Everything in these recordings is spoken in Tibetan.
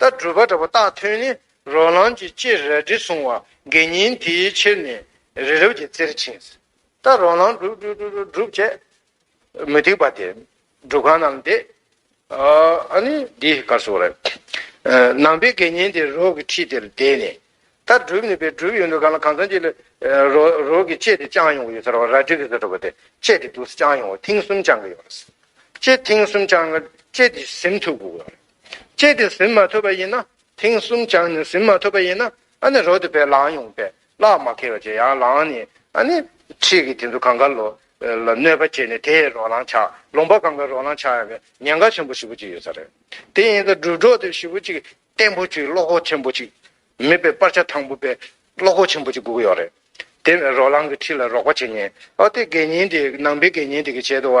ལྟར་སྒྲུབ་པ་འདྲ་པོ་བརྟགས་ཐོན་ནི་རོ་ལངས་ཀྱི་སྤྱི་རལ་གྲི་བཟུང་བ་དགེ་བསྙེན་དེའི་ཕྱིར་ནི་རི་རབ་ཀྱི་རྩེར་ཕྱིན། ལྟར་རོ་ལངས་སྒྲུབ་སྒྲུབ་སྒྲུབ་སྒྲུབ་སྒྲུབ་བྱས། མུ་སྟེགས་པ་དེ་སྒྲུབ་ཁང་རྣམས་འདེད། ཨ་ནི་འདི་གར་སོང་རེ། ནང་པའི་དགེ་བསྙེན་དེ་རོག་གི་ཁྲི་དེར་བསྡད་ནས། ལྟར་སྒྲུབ་ནི་པའི་སྒྲུབ་ཡོད་འདུག་གང་ལ་གང་འཚམ་ཅིག་ལ། རོག་གི་ལྕེ་དེ་བཅང་ཡོང་གི་ཡོད་ས་རེད་བ་རལ་གྲི་གི་ས་གྲུབ་པ་དེ་ལྕེ་དེ་དུ་སི་བཅང་ཡོང་བ་ཐེངས་གསུམ་བཅང་གི་ཡོད་རེད། ལྕེ་ཐེངས་གསུམ་བཅང་ལྕེ་དེ་ཟིམ་ཐུབ་དགོས་ཡོད་རེད། བསྐྱེད་དེ་ཟིན་མ་ཐུབ་པ་ཡིན་ན་ཐེངས་གསུམ་བྱང་ནས་ཟིན་མ་ཐུབ་པ་ཡིན་ན་ཨ་ནི་རོ་དེ་བས་ལངས་ཡོང་བས་གླགས་མ་ཁེལ་བ་བྱས་ཡང་ལངས་ནས་ཨ་ནི་ཁྲིད་ཀྱི་དེ་ཚོ་གང་ག་ལོ་ལ་གནོད་པ་བྱས་ནས་དེས་རོ་ལངས་ཆགས་ལོང་པ་གང་ག་རོ་ལངས་ཆགས་ཡོང་བས་ཉེན་ཁ་ཆེན་པོ་ཞི་བོ་གཅིག་ཡོད་ས་རེད་དེ་ཡིན་ཙང་སྒྲུབ་གྲོགས་དེ་ཞི་བོ་གཅིག་བརྟན་པོ་གཅིག་བློ་ཁོག་ཆེན་པོ་གཅིག་མེད་པས་སྤར་ཆ་ཐང་པོ་པས་བློ་ཁོག་ཆེན་པོ་གཅིག་སྒུག་གི་ཡོད་རེད་དེ་བས་རོ་ལངས་ཀྱི་ཁྲིད་ལ་རོགས་པ་བྱེད་ཉེན་ཨོ་དེ་དགེ་བསྙེན་དེ་ནང་པའི་དགེ་བསྙེན་དེ་གི་བྱེད་དུ་བ་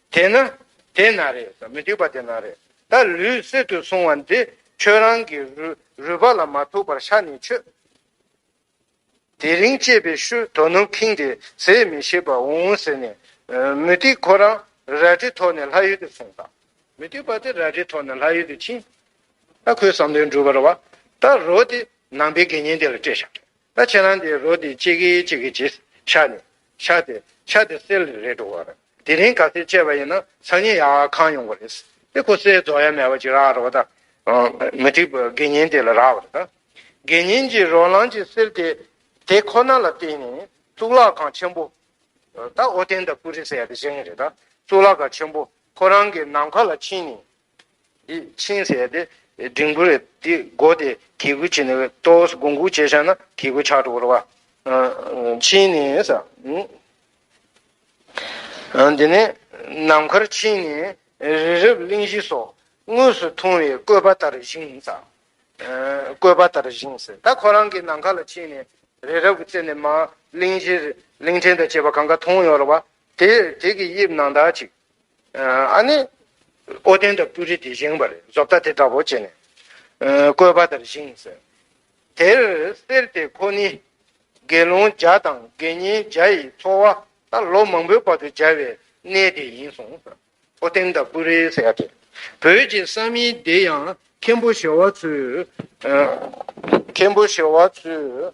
དེས་ན་དེས་ན་རེད་ཟེར་མི་འགྲིག་པ་དེ་ན་རེད་ད་ལུས་གསེར་དུ་སོང་བ་འདི་ཁྱོད་རང་གི་རུས་པ་ལ་མ་ཐུག་པར་ཤ་ནི་ཆོད། དེ་རིང་སྐྱེས་པའི་ཤུ་དོ་ནུབ་ཁྱིང་དེ་ཟས་མི་ཤེས་པར་འོང་འོང་ཟེར་ནས་མུ་ཏིག་ཁོ་རང་རལ་གྲི་ཐོགས་ནས་ལྷ་ཡུལ་དུ་སོང་ད། མུ་ཏིག་པ་དེ་རལ་གྲི་ཐོགས་ནས་ལྷ་ཡུལ་དུ་ཕྱིན། ད་ཁོའི་བསམ་དོན་འགྲུབ་པར་བ་ད་རོ་དེ་ནང་པའི་དགེ་བསྙེན་དེ་ལ་སྤྲད་བཞག། ད་ཁྱེད་རང་དེའི་རོ་དེ་གཅིག་གིས་གཅིག་གི་རྗེས་ཆགས་ནས་ཆགས་ཏེ་ཆགས་ཏེ་གསེར་ལས་རེག་འགྲོ་བ་རེད། དེ་རིང་ག་ཚད་སྤྱད་པ་ཡིན་ན་སང་ཉིན་ཡང་གང་ཡོང་གི་རེད། དེ་ཁོ་གསེར་རྫོགས་ཡ་མེད་པ་ཅིག་རག་རོགས་ད། མི་འགྲིག་པོ་དགེ་བསྙེན་དེ་ལ་རག་བར་ད། དགེ་བསྙེན་གྱིས་རོ་ལངས་ཀྱི་གསེར་དེ་དེ་ཁོ་ན་ལ་བསྟན་ནས་གཙུག་ལག་ཁང་ཆེན་པོ། ད་ཨོ་རྟེན་དང་ཀུ་རེ་སེ་ཡ་དེ་བཞེངས་ཡས་རེད་ད་གཙུག་ལག་ཁང་ཆེན་པོ་ཁོ་རང་གི་ནམ་མཁའ་ལ་ཕྱིན་ནས་ཕྱིན་ཟེར་ཏེ། འབྲིང་པོ་རེད་དེ་སྒོ་དེ་གེ་གུ་བྱེད་ནས་ལྟོ་ས་སྒོང་གུག་བྱས་ཤག་ན་གེ་གུ་ཆག་འགྲོ་བ། ཕྱིན་ནས། དེ་ནས་ནམ་མཁར་ཕྱིན་ནས་རི་རབ་གླིང་བཞི་སོགས་དངོས་སུ་མཐོང་བའི་བཀོད་པ་ལྟར་བཞེངས། བཀོད་པ་ལྟར་བཞེངས་ཟེར་ད་ཁོ་རང་གི་ནམ་མཁའ་ལ་ཕྱིན་ནས་རི་རབ་ཀྱི་རྩེ་ནས་མ་གླིང་བཞི་གླིང་ཕྲན་དང་བཅས་པ་གང་ག་མཐོང་ཡོང་རོགས་པ། དེར་དེ་གི་དབྱིབས་ནང་དག་ཅིག་ཨ་ནི། ཨོ་རྒྱན་དང་སྤུ་གྲི་དེ་བཞེངས་པ་རེད་བཟོ་ལྟ་དེ་འདྲ་བོ་བྱས་ནས། བཀོད་པ་དེར་བཞེངས་ཟེར། དེར་གསེར་དེ་ཁོ་ནི། དགེ་སློང་བརྒྱ་དང་དགེ་བསྙེན་བརྒྱ་ཡི་འཚོ་བ་ད་ལོ་མང་པོའི་བར་དུ་སྦྱར་བའི་གནས་དེ་ཡིན་གསུངས། ཨོ་རྒྱན་དང་སྤུ་གྲི་ཟེར་དེ་བོད་ཀྱི་ས་མིང་དེ་ཡང་མཁན་པོ་བྱེ་བ་ཚོས། མཁན་པོ་བྱེ་བ་ཚོས་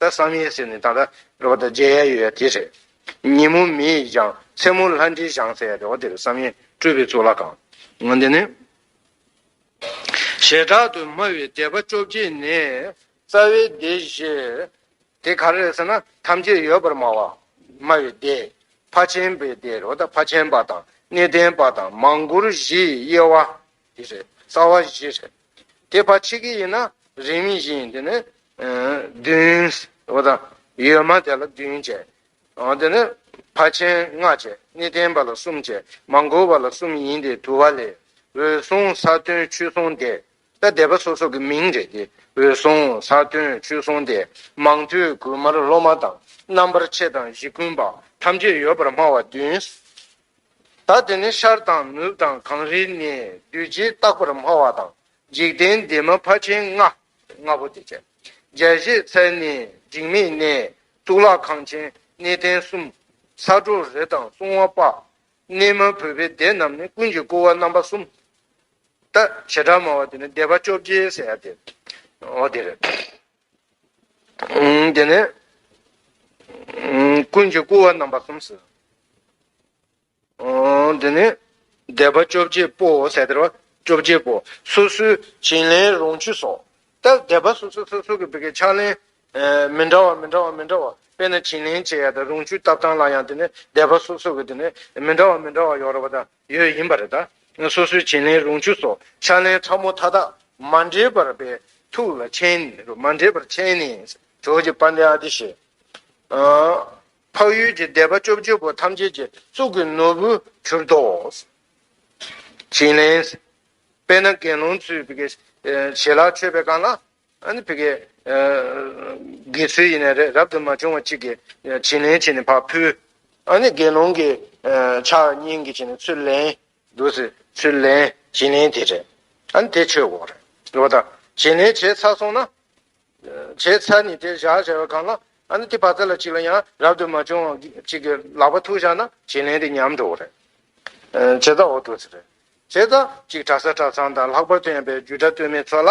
ད་བསམ་ཡས་ཟེར་ནས་ད་ལྟ་རེད་བ་ད་མཇལ་ཡས་ཡོད་ཡ་དེ་རེད། ཉིན་མོ་མི་ཡིས་ཀྱང་མཚན་མོ་ལྷ་འདྲེའི་ཞང་ཟེར་ཡ་རེད་བ་དེ་རེད་བསམ་ཡས་སྤྲུལ་པའི་གཙུག་ལག་ཁང། ང་འདི་ནས། ཞེ་དྲག་ཏུ་སྨྲ་བའི་དད་པ་བཅོ་བརྒྱད་ནས། རྩ་བའི་སྡེ་བཞི། དེ་ག་རེ་རེད་ཟེར་ན་ཐམས་ཅད་ཡོད་པར་སྨྲ་བ། སྨྲ་བའི་སྡེ། ཕ་ཆེན་པའི་སྡེ་རེད་བ་ད་ཕ་ཆེན་པ་དང་གནས་བརྟན་པ་དང་མང་བཀུར་བཞིའི་དབྱེ་བ། དེ་རེད་རྩ་བ་བཞི་རེད། དེ་བར་ཆད་ཀྱི་ཡིན་ན་རིགས་མིན་བཞིན་ཡིན་དེ་ནི། བདུན། བ་དང། ཡོད་མ་དེ་ལ་བདུན་བཅས། དེ་ནི། བར་ཆད་ལྔ་བཅས་ནི་བརྟན་པ་ལ་གསུམ་བཅས་མ་འགོར་བ་ལ་གསུམ་ཡིན་ཏེ་དུ་བ་ལས། འོད་སྲུང་ས་བརྟོལ་ཆོས་སྲུང་སྡེ། ད་སྡེ་པ་སོ་སོ་གི་མིང་རེད་དེ། འོད་སྲུང་ས་བརྟོལ་ཆོས་སྲུང་སྡེ། མང་ཐོས་གུ་མར་སློབ་མ་དང། རྣམ་པར་ཆེ་དང་བཞི་ཀུན་པ། ཐམས་ཅད་ཡོད་པར་སྨྲ་བ་བདུན། ད་དེ་ནི་ཤར་དང་ནུབ་དང་གངས་རི་ནས་བདུད་རྗེ་རྟག་པར་སྨྲ་བ་དང་འཇིག་རྟེན་འདས་མ་ཕ་ཆེན་ལྔ། ལྔ་པོ་དེ་བཅས་བརྒྱད་བཞེས་ཚལ་ནས་འཇིགས་མེད་གནས། གཙུག་ལག་ཁང་ཆེན་གནས་བརྟན་གསུམ། ས་གྲོ་རེ་དང་སྲུང་བ་དཔག། གནས་མ་བོས་པའི་སྡེ་རྣམས་ནི་ཀུན་གྱིས་བཀུར་བ་རྣམ་པ་གསུམ། ད་བྱེ་བྲག་སྨྲ་བ་དེ་ནི་སྡེ་པ་བཅོ་བརྒྱད་ཟེར་ཡ་དེ་འོ་དེ་རེད། དེ་ནས་ཀུན་གྱི་བསྐུལ་བ་རྣམ་པ་གསུམ་ཟེར། དེ་ནས་བཟླས་པ་བཅོ་བརྒྱད་པོའོ་ཟེར་དེར་བ་བཅོ་བརྒྱད་པོ་སོ་སོའི་བྱིན་ལེན་རུང་ཆུ་སོགས་ལྟར་བཟླས་པ་སོ་སོ་སོ་སོ་གི་བི་ཀའི་ཕྱག་ལེན་མི་འདྲ་བ་མི་འདྲ་བ་མི་འདྲ་བ་དཔེར་ན་བྱིན་ལེན་བྱེད་ཡ་དང་རུང་ཆུ་བཏབ་སྟངས་ལ་ཡང་དེ་ནས་བཟླས་པ་སོ་སོ་གི་དེ་ནས་མི་འདྲ་བ་མི་འདྲ་བ་ཡོ་རོ་བ་དང། ཡོད་ཡིན་པ་རེད། སོ་སོའི་བྱིན་ལེན་རུང་ཆུ་སོགས་ཕྱག་ལེན་ཕྲ་མོ་མཐའ་དག་མ་འདྲེས་པར་པའི་ཐུགས་ལ་མཁྱེན། མ་འདྲེས་པར་མཁྱེན་ནས་གྲོགས་ཀྱི་དཔལ་ལྡན་ཨ་ཏི་ཤས། འཕགས་ཡུལ་གྱི་སྡེ་པ་བཅོ་བརྒྱད་པོ་ཐམས་ཅད་ཀྱི་གཙུག་གི་ནོར་བུ་གྱུར་ཏོ། བྱིན་ལེན། དཔེར་ན་དགེ་སློང་ཚུལ་བཞིན་བྱེད་ལ་མཆོད་པའི་སྒང་ལ། ཨ་ནི་བི་ཀའི། དགེ་ཚུལ་ཡིན་ནའི་རེད་རབ་ཏུ་མ་བྱུང་བ་གཅིག་གིས་བྱིན་ལེན་བྱས་ནས་བག་ཕུལ། ཨ་ནི་དགེ་སློང་གིས། ཕྱག་གཉིས་ཀྱིས་བྱིན་ནས་ཚུར་ལེན། དུ་སི་ཚུར་ལེན། བྱིན་ལེན་དེ་རེད། ཨ་ནི་དེ་ཆོས་དགོངས་རེད། ལོ་ད། བྱིན་ལེན་བྱས་ཚར་སོང་ན། བྱས་ཚར་ནས་དེ་བཞག་བྱས་པ་གང་ལ། ཨ་ནི་དེ་བག་ཚ་ལ་གཅིག་ལ་ཡང་རབ་ཏུ་མ་བྱུང་བ་གཅིག་གིས་ལག་པ་ཐུག་བཞག་ན་བྱིན་ལེན་དེ་ཉམས་འགྲོ་རེད། བྱས་ཙང་འོ་དུ་སི་རེད། བྱས་ཙང་གཅིག་གྲྭ་ས་གྲྭ་ཚང་དང་ལྷག་པར་དུ་ཡང་པའི་རྒྱུད་གྲྭ་སྟོད་སྨད་ཚོ་ལ་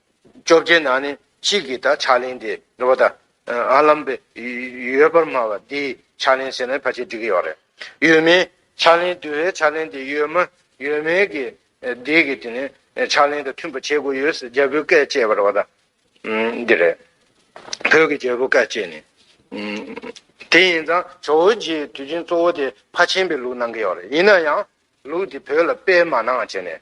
བཅོ་བརྒྱད་ན་ནི་གཅིག་གིས་དང་ཕྱག་ལེན་དེ་འགྲོ་བ་དང། ཨ་ལམ་པའི། ཡོད་པར་སྨྲ་བ་དེས་ཕྱག་ལེན་ཟེར་ན་ཕལ་ཆེར་འགྲིག་གི་ཡོད་རེད། ཡོད་མེད་ཕྱག་ལེན་བསྡུ་བའི་ཕྱག་ལེན་དེ་ཡོད་མ་ཡོད་མེད་ཀྱི། དེ་གི་དེ་ནི་ཕྱག་ལེན་དང་མཐུན་པ་བྱེད་དགོས་ཡོད་ཟེར་རྒྱལ་པོའི་བཀས་བཅད་པར་བ་དང། འདི་རེད། བོད་ཀྱི་རྒྱལ་པོ་བཀའ་བཅད་ནི། དེ་ཡིན་ཙང་ཇོ་བོ་རྗེའི་དུས་ཆེན་གཙོ་བོ་དེ་ཕ་ཆེན་པའི་ལུགས་གནང་གི་ཡོད་རེད་ཡིན་ན་ཡང། ལུགས་དེ་བོད་ལ་སྤེལ་མ་གནང་བྱས་ནས་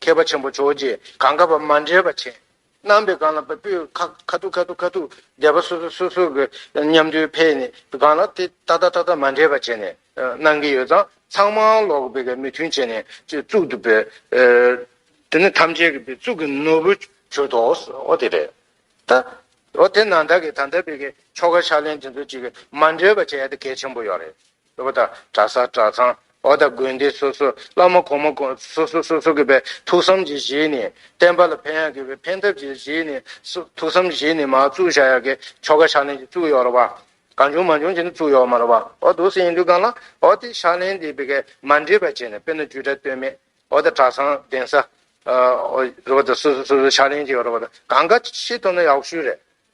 མཁས་པ་ཆེན་པོ་རྗོགས་བྱེད་གང་ག་བར་མ་འདྲེས་པ་བྱས། རྣམ་པའི་གང་ལ་བ་སྤུའི་ཁ་ཁ་ཐུག་ཁ་ཐུག་ཁ་ཐུག་བཟླས་པ་སོ་སོ་སོ་སོ་གི་ཉམས་རྡུལ་འཕེལ་ནས་གང་ལ་དེ་ཏག་ཏག་ཏག་ཏག་མ་འདྲེས་པ་བྱས་ནས་གནང་གི་ཡོད་ཙང་ཚང་མ་ལོག་པའི་ག་མི་མཐུན་བྱས་ནས་གཙུག་ཏུ་བོས། དེ་ནི་ཐམས་ཅད་ཀྱི་བའི་གཙུག་གི་ནོར་བུ་བྱོས་དོ་ཨོ་དེ་རེད་ད། ཨོ་དེ་ན་བདག་གིས་ད་ལྟ་བའི་གི་ཆོ་ག་ཕྱག་ལེན་དེ་ཚོ་གཅིག་མ་འདྲེས་པ་བྱས་ཡ་དེ་གལ་ཆེན་པོ་ཡོད་རེད། སློབ་མ་དང་གྲྭ་ས་གྲྭ་ཚང་འོག་དང་དགོན་སྡེ་སོ་སོའི་བླ་མ་གོང་མ་སོ་སོ་སོ་སོ་གི་པའི་ཐུགས་བསམ་གྱི་གཞི་ནི་བསྟན་པ་ལ་ཕན་ཡག་གི་པའི་ཕན་ཐབས་ཀྱི་གཞི་ནི་ཐུགས་བསམ་གཞི་ནི་མ་བཙུགས་བྱ་ཡག་གི་ཆོ་ག་ཕྱག་ལེན་གྱི་བཙུགས་ཡོག་རོགས་པ་གང་བྱུང་མ་བྱུང་བྱས་ནས་བཙུགས་ཡོག་མ་རོགས་པ་འོག་དུ་སེང་འདུས་སྒང་ལ་འོག་དེ་ཕྱག་ལེན་འདི་པི་ཀའི་མ་འདྲེས་པ་བྱས་ནས་དཔེར་ན་བཅུ་ཕྲག་སྟོད་སྨད་འོག་དང་གྲྭ་ཚང་གདན་ས་རོགས་པ་དང་སོ་སོ་སོ་སོའི་ཕྱག་ལེན་གྱི་ཡོག་རོགས་པ་དང་གང་ག་ཤེས་ཐུབ་ན་ཡག་ཤོས་རེད།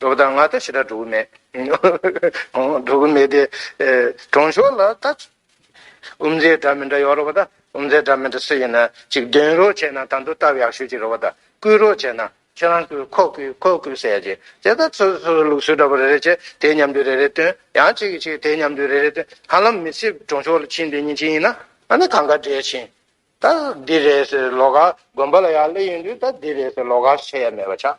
འགྲོ་བ་དང་ང་དང་ཕྱི་དགྲ་འགྲོ་གི་མེད། འགྲོ་གི་མེད་དེ། གྲོང་ཤོག་ལ་ད། ཨུམ་རྫའི་སྒྲ་མི་འདྲ་ཡོད་རོ་བ་ད། ཨུམ་རྫའི་སྒྲ་མི་འདྲ་སུ་ཡིན་ན་ཅིག་འདོན་རོགས་བྱས་ན་ད་འདུག་སྟབས་ཡག་ཤོས་ཅིག་རེད་བ་ད། བསྐུལ་རོགས་བྱས་ན། ཁྱེད་རང་བསྐུལ་ཁོ་བསྐུལ་ཁོ་བསྐུལ་ཟེར་ཡ་ཅིག་དེ་ལྟར་སོ་སོ་སོའི་ལུགས་སྲོལ་འདྲ་པོ་རེ་རེ་བྱས་དེའི་མཉམ་འདུས་རེ་རེ་བཏོན་ཡང་ཅིག་གིས་ཅིག་དེའི་མཉམ་འདུས་རེ་རེ་བཏོན་ཧ་ལམ་མི་ཚེ་གྲོང་ཤོག་ལ་ཕྱིན་དེ་ཉིན་ཕྱིན་ཡིན་ན་ཨ་ནི་གང་གཱ་འདྲེས་ཕྱིན། ད་འདི་རེད་ཟེར་ལོག་ཁ་དགོན་པ་ལ་ཡག་ལེ་ཡིན་དུས་ད་འདི་རེད་ཟེར་ལོག་ཁ་བྱས་ཡ་མེད་པ་ཆགས།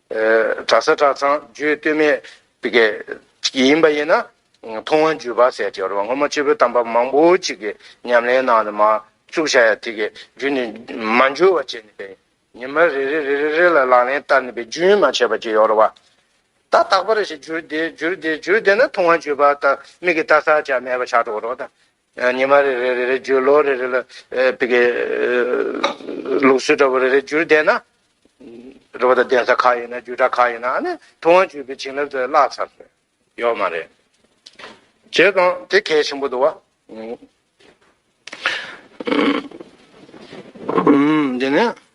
གྲྭ་ས་གྲྭ་ཚང་བརྒྱུད་སྟོད་སྨད་དགེ། ཡིན་པ་ཡིན་ན། མཐོང་བ་བརྒྱུད་པ་ཟེར་གྱི་རེད་བ་སྔོན་མ་སྤྱི་བོའི་གཏམ་པ་མང་པོ་ཅིག་གི་ཉམས་ལེན་ནང་ནས་མ་བཅུག་བྱ་ཡ་དེ་གི་རྒྱུད་ནས་མ་འགྱུར་བ་བྱས་ནས་པའི་ཉི་མ་རེ་རེ་རེ་རེ་རེ་ལ་ལག་ལེན་བསྟར་ནས་པའི་རྒྱུན་མ་ཆད་པ་གྱི་ཡོད་རེད་བ། ད་རྟག་པར་ཞིག་བརྒྱུད་དེ་བརྒྱུད་དེ་བརྒྱུད་དེ་ན་མཐོང་བ་བརྒྱུད་པ་ད་མིག་གི་ལྟ་ས་ཅག་མེད་པ་ཆགས་འགྲོ་རོགས་དང། ཉི་མ་རེ་རེ་རེ་རེ་བརྒྱུད་ལོ་རེ་རེ་ལ་དཔེ་ཀའི་ལུགས་སྲོལ་འདྲ་བོ་རེ་རེ་བསྒྱུར་བསྡད་ན། རེ་བ་དང་གདན་ས་ཁག་ཡིན་ན་བརྒྱུད་གྲྭ་ཁག་ཡིན་ན་ནི་ཐུབ་དབང་བརྒྱུད་པའི་བྱིན་རླབས་དེ་བརླག་ཚར་ཟེར་ཡོད་མ་རེད། བྱས་ཙང་དེ་གལ་ཆེན་པོ་འདུག་བ། འདི་ནི།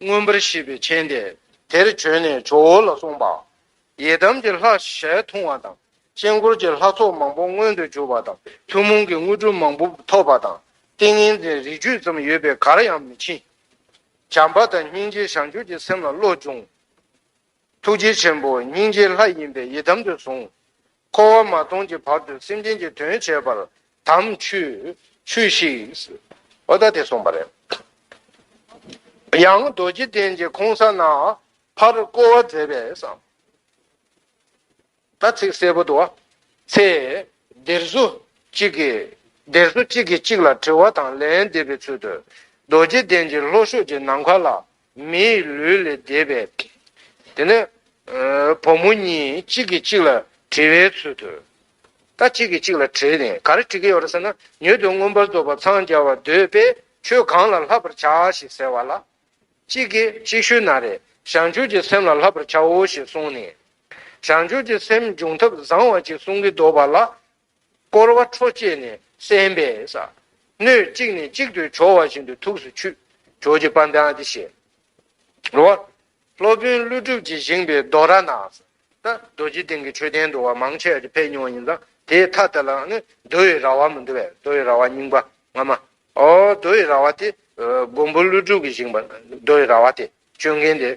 མངོན་པར་ཤེས་པའི་མཁྱེན་དེ་དེར་བྱོན་ནས་ཇོ་བོ་ལ་གསུངས་པ། ཡི་དམ་གྱི་ལྷ་ཞལ་མཐོང་བ་དང་དཀྱིལ་འཁོར་གྱི་ལྷ་ཚོགས་མང་པོ་མངོན་དུ་གྱུར་པ་དང་ཐུན་མོང་གི་དངོས་གྲུབ་མང་པོ་ཐོབ་པ་དང་ཏིང་ངེ་འཛིན་རིགས་བཅུ་ཙམ་ཡོད་པས་གར་ཡང་མི་ཕྱིན། བྱམས་པ་དང་སྙིང་རྗེ་བྱང་ཆུབ་ཀྱི་སེམས་ལ་བློ་སྦྱོང། ཐུགས་རྗེ་ཆེན་པོ་སྙིང་རྗེའི་ལྷ་ཡིན་པས་ཡི་དམ་དུ་བཟུང། འཁོར་བ་མ་སྟོངས་ཀྱི་བར་དུ་སེམས་ཅན་གྱི་དོན་བྱེད་པར་དམ་ཆོས་ཤིག། ཨོ་ད་དེ་གསུངས་པ་རེད། ཡང་རྡོ་རྗེ་གདན་གྱི་ཁོང་ས་ན་ཕར་བསྐོར་བ་མཛད་པས། ད་ཚིག་གསལ་པོ་འདུག་ཚེ་འདིར་སུ་གཅིག་གིས་འདིར་སུ་གཅིག་གིས་གཅིག་ལ་དྲི་བ་དང་ལན་འདེབས་པའི་ཚུལ་དུ་རྡོ་རྗེ་གདན་གྱི་ལྷོ་ཤོག་གི་ནམ་མཁའ་ལ་མི་ཡི་ལུས་ལས་འདས་པའི། དེ་ནས་བུ་མོ་གཉིས་གཅིག་གིས་གཅིག་ལ་དྲི་བའི་ཚུལ་དུ། ད་གཅིག་གིས་གཅིག་ལ་དྲིས་ནས་ག་རེ་དྲི་གི་ཡོད་རེད་ཟེར་ན། མྱུར་དུ་མངོན་པར་རྫོགས་པར་འཚང་རྒྱ་བར་འདོད་པས་ཁྱོད་གང་ལ་ལྷག་པར་བྱ་ཞེས་ཟེར་བ་ལ། གཅིག་གིས་ཅིག་ཤོས་ན་རེ་བྱང་ཆུབ་ཀྱི་སེམས་ལ་ལྷག་པར་བྱའོ་ཞེས་གསུངས་ནས། བྱང་ཆུབ་ཀྱི་སེམས་འབྱུང་ཐབས་བཟང་བ་ཅིག་གསུང་གིན་འདུག་པ་ལ་བསྐོར་བ་ཁྲོ་བསྐྱེད་ནས་གསན་པས་བསགས། སྣོད་གཅིག་ནས་གཅིག་ཏུ་སྦྱོར་བ་བཞིན་དུ་ཐུགས་སུ་ཆུད། ཇོ་བྱེད་པ་འདི་ཨཏི་ཤས། རོ། སློབ་དཔོན་ཀླུ་སྒྲུབ་ཀྱིས་བཞེངས་པའི་རྡོ་ར་ནག། ད་རྡོ་རྗེ་གདན་གྱི་མཆོད་རྟེན་དུ་བ་མང་ཆེ་བ་དེ་ཕེབས་མྱོང་བ་ཡིན་ཙང་དེའི་མཐའ་དེ་ལའང་ནི་རྡོ་ཡི་ར་བ་མི་འདུག་བས་རྡོ་ཡི་ར་བ་རྙིང་པ་སྔ་མ། རྡོ་ཡི་ར་བ་དེ། མགོན་པོ་ཀླུ་སྒྲུབ་ཀྱིས་བཞེངས་པ་རྡོ་ཡི་ར་བ་སྟེ་སྤྱོད་མཁན་དེ་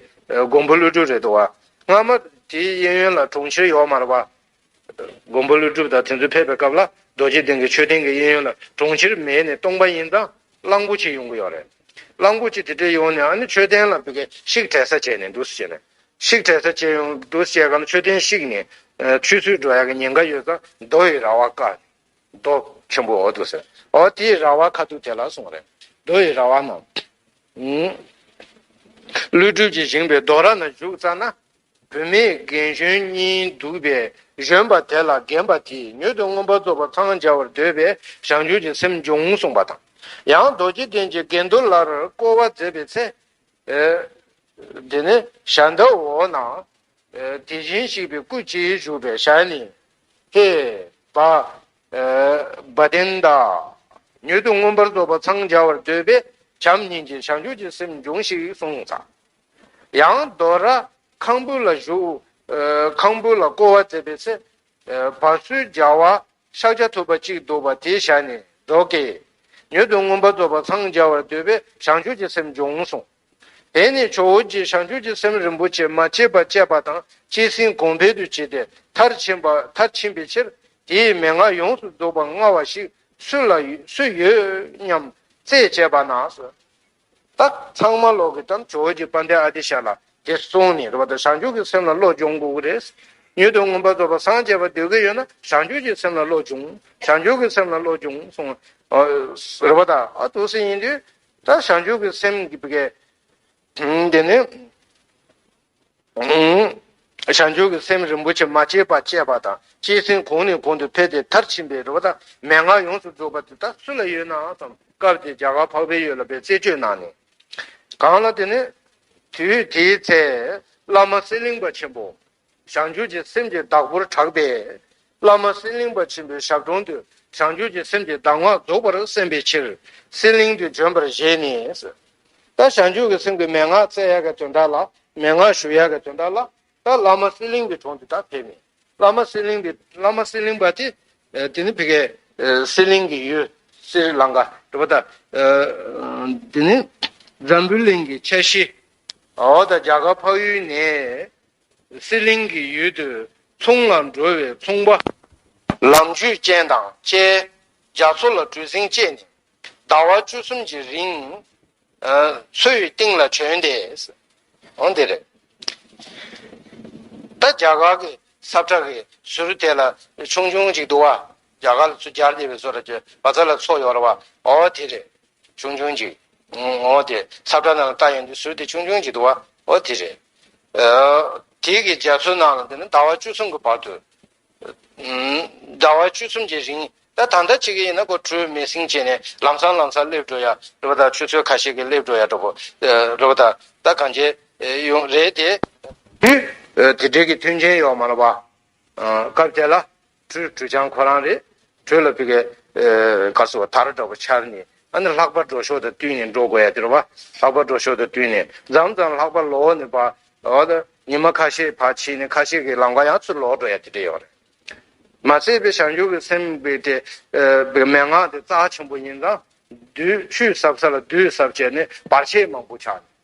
མགོན་པོ་ཀླུ་སྒྲུབ་རེད་འདུག་བ། སྔ་མ། དེའི་གཡས་གཡོན་ལ་གྲོང་ཁྱེར་ཡོག་མར་བ། མགོན་པོ་ཀླུ་སྒྲུབ་དང་དེ་ཚོ་ཕེབས་པའི་སྐབས་ལ་རྡོ་རྗེ་གདན་གྱི་མཆོད་རྟེན་གྱི་གཡས་གཡོན་ལ་གྲོང་ཁྱེར་མེད་ནས་སྟོང་པ་ཡིན་ཙང་གླང་པོ་ཆེ་ཡོང་གི་ཡོད་རེད། གླང་པོ་ཆེ་དེ་འདྲས་ཡོང་ནས་ཨ་ནི་མཆོད་རྟེན་ལ་བཤིག་དྲལ་ས་བྱས་ནས་འདུག་ཟེར་ནས། བཤིག་དྲལ་ས་བྱས་ཡོང་འདུག་བཤད་སྐབས་མཆོད་རྟེན་བཤིག་ནས། ཆུ་ཚོད་འགྲོ་ཡག་གི་ཉེན་ཁ་ཡོད་ཙང་རྡོ་ཡི་ར་བ་ཀ། རྡོ་ཆེན་པོ་འོ་འདུག་ཟེར། འོ་དེའི་ར་བ་ཁ་ཐུག་དེ་ལ་སོང་རེད། རྡོ་ཡི་ར་བ་ན། ཀླུ་སྒྲུབ་ཀྱིས་བཞེངས་པའི་རྡོ་ར་ན་བཞུགས་ཙང་ན། བུད་མེད་རྒན་གཞོན་གཉིས་འདུག་པའི་གཞོན་པ་དེ་ལ་རྒན་པ་དེས་མྱུར་དུ་རྔོན་པ་གཙོ་བོ་འཚང་རྒྱ་བར་འདོད་པའི་ཞང་ཞུང་གི་སེམས་འབྱུང་གསུངས་པ་དང། ཡང་རྡོ་རྗེ་གདན་གྱི་དགེ་འདུན་ལར་བསྐོར་བ་མཛད་པའི་ཚེ། དེ་ནས་ཞྭ་མདའ་འོག་ན། དེ་བཞིན་གཤེགས་པའི་སྐུ་སྤྱི་བཞུགས་པའི་ཞལ་ནས། ཧེ། བྃ། བདེན་བདག། མྱུར་དུ་རྔོན་པར་གཙོ་བོ་འཚང་རྒྱ་བར་འདོད་པའི་བྱམས་སྙིང་རྗེའི་ཞང་ཞུང་གི་སེམས་འབྱུང་ཞིག་གསུངས། ཡང་རྡོ་ར། ཁང་བུ་ལ་བཞུགས། ཁང་བུ་ལ་བསྐོར་བ་མཛད་པའི་ཚེ། བར་སུལ་རྒྱ་བ། ཤཱཀྱ་ཐུབ་པ་གཅིག་འདུག་པ་དེའི་ཞལ་ནས་སྒྲོག་གེ། མྱུར་དུ་མངོན་པར་རྫོགས་པར་འཚང་རྒྱ་བར་འདོད་པས་ཞང་ཞུང་གི་སེམས་འབྱུང་གསུངས། དེ་ནས་ཇོ་བོ་རྗེས་ཞང་ཞུང་གི་སེམས་རིན་པོ་ཆེ་མ་སྐྱེས་པ་སྤྱད་པ་དང་བཅས་ཟིན་གོང་འཕེལ་དུ་བྱས་ཏེ་མཐར་ཕྱིན་པ་མཐར་ཕྱིན་པའི་ཕྱིར། དེའི་མན་ངག་ཡོངས་སུ་རྫོགས་པར་མངའ་བ་ཞིག་སུ་ལ་སུ་ཡོད་སྙམ། རྩད་བཅད་པ་ན། ད་ཚང་མ་ལོག་གི་དམ་ཆོས་ཀྱི་དཔའ་འདེགས་ཨ་ཏི་ཤ་ལ་དེ་གསུངས་ནས་རོ་ད་བྱང་ཆུབ་ཀྱི་སེམས་ལ་བློ་སྦྱོང་དགོས་ཀྱི་རེད། མྱུར་དུ་མངོན་པར་རྫོགས་པར་སངས་རྒྱས་པར་འདོད་ཀྱི་ཡོད་ན་བྱང་ཆུབ་ཀྱི་སེམས་ལ་བློ་སྦྱོང་བྱང་ཆུབ་ཀྱི་སེམས་ལ་བློ་སྦྱོང་གསུངས། རོ་ད་ཨ་ཏུ་སི་ཡིན་དུས་ད་བྱང་ཆུབ་ཀྱི་སེམས་དགེ། དེ་ནས། བྱང་ཆུབ་ཀྱི་སེམས་རིན་པོ་ཆེ་མ་སྐྱེས་པ་སྐྱེས་པ་དང་སྐྱེས་ཟིན་གོང་ནས་གོང་དུ་འཕེལ་ཏེ་མཐར་ཕྱིན་པའི་རོལ་པ་དང་མན་ངག་ཡོངས་སུ་རྫོགས་པ་དེ་དག་སུ་ལ་ཡོད་ནའང་བསམ་སྐབས་དེ་རྒྱ་གར་འཕགས་པའི་ཡུལ་ལ་པའི་རྩེ་ཆོས་གནང་ནས། གང་ལ་དེ་ནས། དུས་དེའི་ཚེ། བླ་མ་གསེར་གླིང་པ་ཆེན་པོ། བྱང་ཆུབ་ཀྱི་སེམས་ཀྱི་བདག་པོར་གྲགས་པས། བླ་མ་གསེར་གླིང་པ་ཆེན་པོའི་ཞབས་དྲུང་དུ་བྱང་ཆུབ་ཀྱི་སེམས་ཀྱི་གདམས་ངག་རྫོགས་པར་གསན་པའི་ཕྱིར་གསེར་གླིང་དུ་བྱོན་པར་བཞེད་ནས། ད་བྱང་ཆུབ་ཀྱི་སེམས་ཀྱི་མན་ངག་བཙལ་ཡག་གི་དོན་དག་ལ་མན་ངག་ཞུ་ཡག་གི་དོན་དག་ལ་ད་བླ་མ་གསེར་གླིང་པའི་དྲུང་དུ་ད་ཕེབས་ནས་བླ་མ་གསེར་གླིང་པའི་བླ་མ་གསེར་གླིང་པ་དེ་དེ་ནི་ཕི་གའི་གསེར་གླིང་གི་ཡུལ་སིར་ལང་ག་གྲུ་པ་དང། དེ་ནི་འཛམ་བུའི་གླིང་གི་ཁྱད་གཞི་འོག་ད་རྒྱ་གར་འཕགས་ཡུལ་ནས་གསེར་གླིང་གི་ཡུལ་དུ་ཚོང་ལ་འགྲོ་བའི་ཚོང་པ། ལམ་རྒྱུད་ཅན་དང་བཅས་རྒྱ་མཚོ་ལ་གྲུ་གཟིངས་བཅས་ནས་ཟླ་བ་བཅུ་གསུམ་གྱི་རིང། མཚོའི་གཏིང་ལ་བྱོན་ཏེ། འོ་འདི་རེད། ད་རྒྱ་གར་གྱི་སབ་ཁྲ་གི་ཟུར་དེ་ལ་ཆུང་ཆུང་ཅིག་འདུག་བ། རྒྱ་གར་ལ་སུ་བསྐྱལ་འདི་བའི་བཟོ་ར་ཀྱི་བ་ཚ་ལ་ཚོགས་ཡོ་ར་བ་འོ་དེ་རེད་ཆུང་ཆུང་ཅིག་ངོ་དེ་སབ་ཏྲ་ནང་ལ་ལྟ་ཡོང་དུས་ཟུར་དེ་ཆུང་ཆུང་ཅིག་འདུག་བ་འོ་དེ་རེད་དེ་གི་རྒྱ་མཚོའི་ནང་ལ་འདི་ན་ཟླ་བ་བཅུ་གསུམ་གི་བར་དུ་ཟླ་བ་བཅུ་གསུམ་གྱི་རིང་ད་ད་ལྟ་ཆེ་གེ་ཡིན་ན་སྒོར་དྲུག་མེད་སིང་བྱས་ནས་ལམ་སང་ལམ་སར་སླེབས་འགྲོ་ཡ་རེད་བ་ད་ཆུ་ཚོད་ཁ་ཤེས་ཀྱི་སླེབས་འགྲོ་ཡ་འགྲོ་བོ་རེད་བ་ད་ད་གང་ཆེ་ཡོང་རེད་དེ་དུས་དེ་འབྲེལ་གྱི་མཐུན་རྐྱེན་ཡོག་མ་ལ་བ་སྐབས་དེ་ལ་གྲུའི་གྲུ་ཆང་ཁོ་རང་རེད། གྲུ་ལ་བི་གའི་ག་སོ་བ་དར་འདྲ་བོ་འཕྱར་ནས་ཨ་ནི་ལྷག་པ་འགྲོ་ཞོར་དུ་བཏུལ་ནས་འགྲོ་དགོས་ཡ་དེར་བ། ལྷག་པ་འགྲོ་ཞོར་དུ་བཏུལ་ནས་འཛམ་ཙམ་ལྷག་པ་ལོག་ནས་བ། འོ་ད་ཉི་མ་ཁ་ཤས་བར་ཕྱིན་ནས་ཁ་ཤས་ཀྱི་ལམ་ཁ་ཡང་ཚུར་ལོག་འགྲོ་ཡ་དེ་འདྲ་ཡོད་རེད། མ་ཟད་པའི་བྱང་ཆུབ་ཀྱི་སེམས་དཔའི་དེ་བའི་མན་ངག་དེ་རྩ་ཆེན་པོ་ཡིན་ཙང། དུས་ཆུད་ཟབ་ས་ལ་དུས་ཟབ་བྱས་ནས་བར་ཆད་མང་པོ་ཆགས་ནས་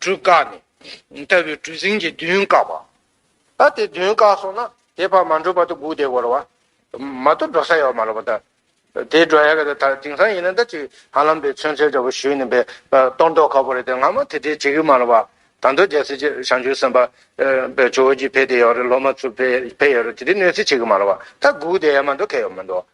གྲུ་བཀག་ནས། ལྟ་བུའི་གྲུ་གཟིངས་ཀྱིས་མདུན་བཀག་པ། ད་དེ་མདུན་བཀག་སོང་ན་དེ་བར་མ་འགྲོ་བར་དུ་སྒུག་བསྡད་དགོས་རོགས། མ་གཏོགས་འགྲོ་ས་ཡོད་མ་རེད་པ་ད། དེ་འགྲོ་ཡག་གི་རེད་ད་དེང་སང་ཡིན་ན་ད་ཅིག་ཧ་ལམ་དེ་མཚོན་ཚལ་འདྲ་པོ་ཞུས་ནས་པའི་གཏོར་མདོག་ཁ་པོ་རེད་དེ་སྔ་མོ་དེ་འདྲས་བྱེད་གི་མ་རེད་པ། ད་མདོ་རྒྱལ་སྲིད་སྤྱི་བྱང་ཆུབ་སེམས་དཔའ། པའི་ཇོ་བོ་རྗེ་ཕེབས་བསྡད་ཡོད་རེད་སློབ་མ་ཚུར་ཕེབས་ཡོད་རེད་དེ་འདྲས་གནོད་འཚེ་བྱེད་གི་མ་རེད་པ་ད་སྒུག་བསྡད་ཡ་མ་འགྲོ་གལ་ཡོད་མི་འདུག།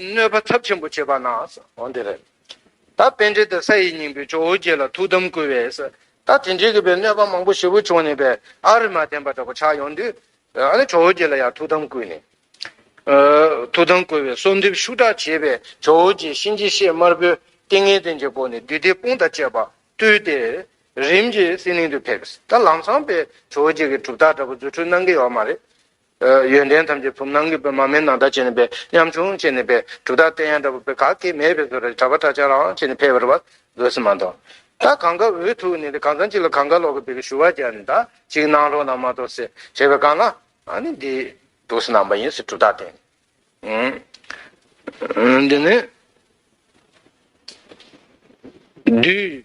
གནོད་པ་ཚབས་ཆེན་པོ་བྱེད་པ་ན། འོན་ཏེ། ད་བན་དེ་དང་ས་ཡི་སྙིང་པོའི་ཇོ་བོ་རྗེ་ལ་ཐུགས་དམ་བསྐུལ་བས། ད་དེ་འདྲའི་གི་བའི་གནོད་པ་མང་པོ་ཞེ་པོ་བྱུང་ནས་པས་ཨ་རི་མ་བསྟན་པ་འདྲ་པོ་ཆགས་ཡོང་དུས། ཨ་ནི་ཇོ་བོ་རྗེ་ལ་ཡང་ཐུགས་དམ་བསྐུལ་ནས། ཐུགས་དམ་བསྐུལ་བས་གསོལ་འདེབས་ཤུགས་དྲག་བྱས་པས་ཇོ་བོ་རྗེས་གཤིན་རྗེ་གཤེད་དམར་པོའི་ཏིང་ངེ་འཛིན་གྱི་སྒོ་ནས་བདུད་སྡེ་དཔུང་དང་བཅས་པ་བཏུལ་ཏེ། རིམ་གྱིས་སྲིད་གླིང་དུ་ཕེབས། ད་ལམ་ཚངས་པས་ཇོ་བོ་རྗེ་གི་གྲུབ་རྟགས་འདྲ་པོ་རྫུ་འཕྲུལ་གནང་གི་ཡོད་མ་རེད། ཡོན་ཏན་ཐམས་ཅད་བུམ་ནང་གི་པདྨ་མའི་ནང་ལྟར་བྱས་ནས་འབད། ཉམ་ཆུང་བྱས་ནས་འབད། གྲུབ་རྟགས་བསྟན་ཡང་འདྲ་བོ་འབད་ག་གེ་མེད་པའི་བཟོ་རེ་གྲགས་པ་གྲགས་ཆག་རང་བྱས་ནས་ཕེབས་པར་བ་དགོས་སུ་མ་མཐོང། ད་གང་ག་འུ་ཐུག་ནས་གང་ཚང་གཅིག་ལ་གང་ག་ལོག་གི་བེ་གི་ཞུ་བ་རྒྱག་ནས་ད་ཅིག་གནང་རོགས་གནང་མ་གཏོགས་སེ་བྱས་པའི་གང་ན་ཨ་ནི་འདི། འདུག་སེ་ནང་པ་ཡིན་སེ་གྲུབ་རྟགས་བསྟན། འདི་ནི། བདུད།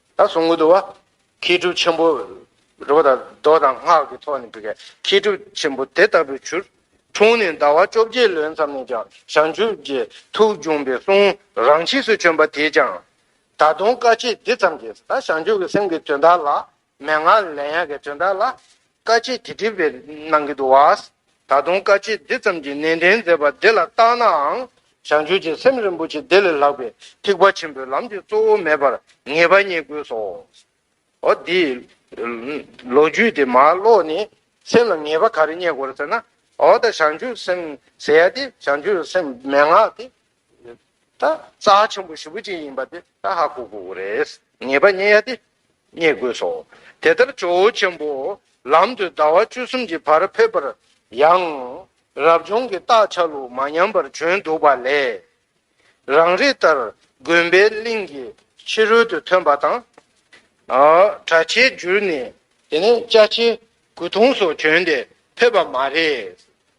ད་གཟུངས་ཀུན་ཏུ་བ། མཁས་གྲུབ་ཆེན་པོ། རི་བོ་དང་རྡོ་དང་སྔགས་ཀྱི་ཐོག་ནས་འབུལ། མཁས་གྲུབ་ཆེན་པོ་དེ་ལྟ་བུའི་ཆུ། འཁྲུངས་ནས་ཟླ་བ་བཅོ་བརྒྱད་ལོན་ཙམ་ནས་ཀྱང་བྱང་ཆུབ་ཀྱི་ཐུགས་འབྱུང་བའི་གསུང་རང་ཆས་སུ་བྱོན་པ་དེས་ཀྱང། ད་དུང་བཀའ་ཆད་འདི་ཙམ་གྱིས་ད་བྱང་ཆུབ་ཀྱི་སེམས་ཀྱི་དོན་དག་ལ། མན་ངག་ལས་ཡན་གྱི་དོན་དག་ལ། བཀའ་སྤྱི་འདི་བྲིས་པའི་ནང་གི་འདུག་བ། ད་དུང་བཀའ་སྤྱི་འདི་ཙམ་གྱིས་ནན་ཏན་མཛད་པ་འདི་ལ་བརྟགས་ནའང། བྱང་ཆུབ་ཀྱི་སེམས་རིན་པོ་ཆེ་འདི་ལས་ལྷག་པའི་ཐེག་པ་ཆེན་པོའི་ལམ་འདི་གཙོ་བོ་མེད་པར་ངེས་པ་རྙེད་དགོས་སོ། འོ་དེ། ལོ་རྒྱུས་དེ་མ་ཀློག་ནས་སེམས་ལ་ངེས་པ་ག་རེ་རྙེད་དགོས་ཟེར་ན། འོ་ད་བྱང་ཆུབ་སེམས་ཟེར་ཡ་དེ་བྱང་ཆུབ་སེམས་མན་ངག་དེ། ད་རྩ་ཧ་ཆེན་པོ་བཞི་པོ་ཅི་ཡིན་པ་དེ་ད་ཧ་གོ་དགོས་རེད། ངེས་པ་རྙེད་ཡ་དེ་རྙེད་དགོས་སོ། དེ་ལྟར་ཇོ་བོ་ཆེན་པོ་ལམ་དུ་ཟླ་བ་བཅུ་གསུམ་གྱི་བར་ཕེབས་པར་ཡང། རབ་བྱུང་གི་རྟགས་ཆ་ལུགས་མ་ཉམས་པར་བྱོན་འདུག་པ་ལས། རང་རིགས་ལྟར་དགོན་པའི་གླིང་གི་ཕྱི་རོལ་དུ་ཐོན་པ་དང། གྲྭ་ཆས་བསྒྱུར་ནས། དེ་ནས་ལྕགས་ཕྱེ་སྐུ་གདུང་སོགས་གྱོན་ཏེ་ཕེབས་པ་མ་རེད།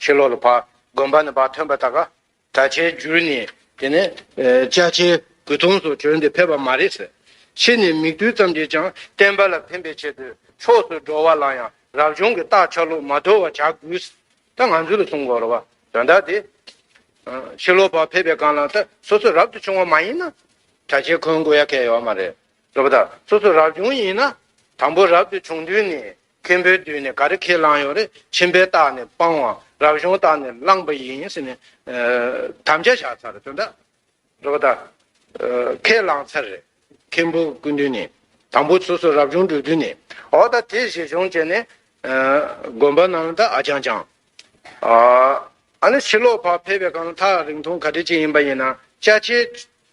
ཁྱི་ལོ་ལ་བག། དགོན་པ་ནས་བག་ཐོན་པ་དག་ག། ད་ཆའི་འགྱུར་ནི། དེ་ནས། ལྕགས་ཆའི་སྒུལ་ཐོངས་སུ་གྱུར་འདི་ཕེབས་པ་མ་རེད་ཟེར། ཕྱིས་ནས་མིག་རྡུལ་ཙམ་གྱིས་ཀྱང་བསྟན་པ་ལ་ཕན་པའི་ཆེད་དུ་ཕྱོགས་སུ་འགྲོ་བ་ལ་ཡང་རབ་བྱུང་གི་རྟགས་ཆགས་ལུགས་མ་དོར་བ་བྱ་དགོས། ད་ང་ཚོའི་ལ་གསུང་གོ་རོ་བ། དོན་དག་དེ། ཁྱི་ལོ་བག་ཕེབས་པའི་སྒང་ལ་ད་སོ་སོ་རབ་ཏུ་བྱུང་བ་མ་ཡིན་ན། གྲྭ་ཆས་འཁོན་དགོས་ཡ་གལ་ཡོད་མ་རེད། ལོ་པ་ད་སོ་སོ་རབ་བྱུང་ཡིན་ན། དང་པོ་རབ་ཏུ་བྱུང་དུས་ནི་མཁན་པོའི་མདུན་ནས་ག་རེ་ཁས་བླངས་ཡོད་རེད་ཁྱིམ་པའི་རྟགས་ནས་སྤང་བ་རབ་བྱུང་རྟགས་ནས་བླངས་པ་ཡིན་ཟེར་ནས་དམ་བཅའ་བཞག་ཚར་རེད་དོན་དག་རེད་པ་ད་ཁས་བླངས་ཚར་རེད་མཁན་པོ་སྐུ་མདུན་ནས་དང་པོ་སོ་སོ་རབ་བྱུང་འགྲོ་དུས་ནས་འོ་ད་དེ་བཞེས་སྦྱོང་བྱས་ནས་དགོན་པ་རྣམས་ལ་ད་ཨ་ཅང་ཅང་ཨ་ནི་ཕྱི་ལོག་བར་ཕེབས་པའི་གང་ལ་ཐག་རིང་ཐུང་ག་དྲི་ཅི་ཡིན་པ་ཡིན་ན་བཅའ་ཆའི་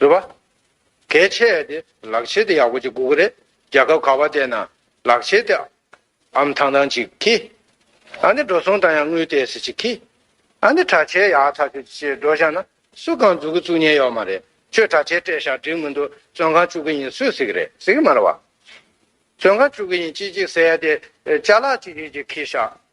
རེད་པ། གལ་ཆེ་ཡ་དེ་ལག་ཆས་དེ་ཡག་པོ་ཅིག་དགོས་གི་རེད་རྒྱལ་ཁབ་ག་བ་དེ་ན་ལག་ཆས་དེ་ཨམ་ཐང་ཐང་ཅིག་གི། ཨ་ནི་འགྲོ་སོང་དང་ཡང་དངུལ་ཏེ་སི་ཅིག་གི། ཨ་ནི་དྲ་ཆས་ཡག་ཐག་ཆོད་ཅིག་འགྲོ་བཞག་ན་སུ་གང་འཛུགས་གི་བཙུགས་ཉན་ཡོག་མ་རེད་ཁྱོད་དྲ་ཆས་སྤྲད་བཞག་འགྲིག་མི་འདུག་བཙོན་ཁང་བཅུག་གི་ཡིན་སུས་ཟེར་གི་རེད་ཟེར་གི་མ་རེད་བ། བཙོན་ཁང་བཅུག་གི་ཡིན་ཅིག་ཅིག་ཟེར་ཡ་དེ་ལྕགས་ལག་ཅིག་ཅིག་ཅིག་གི་བཞག་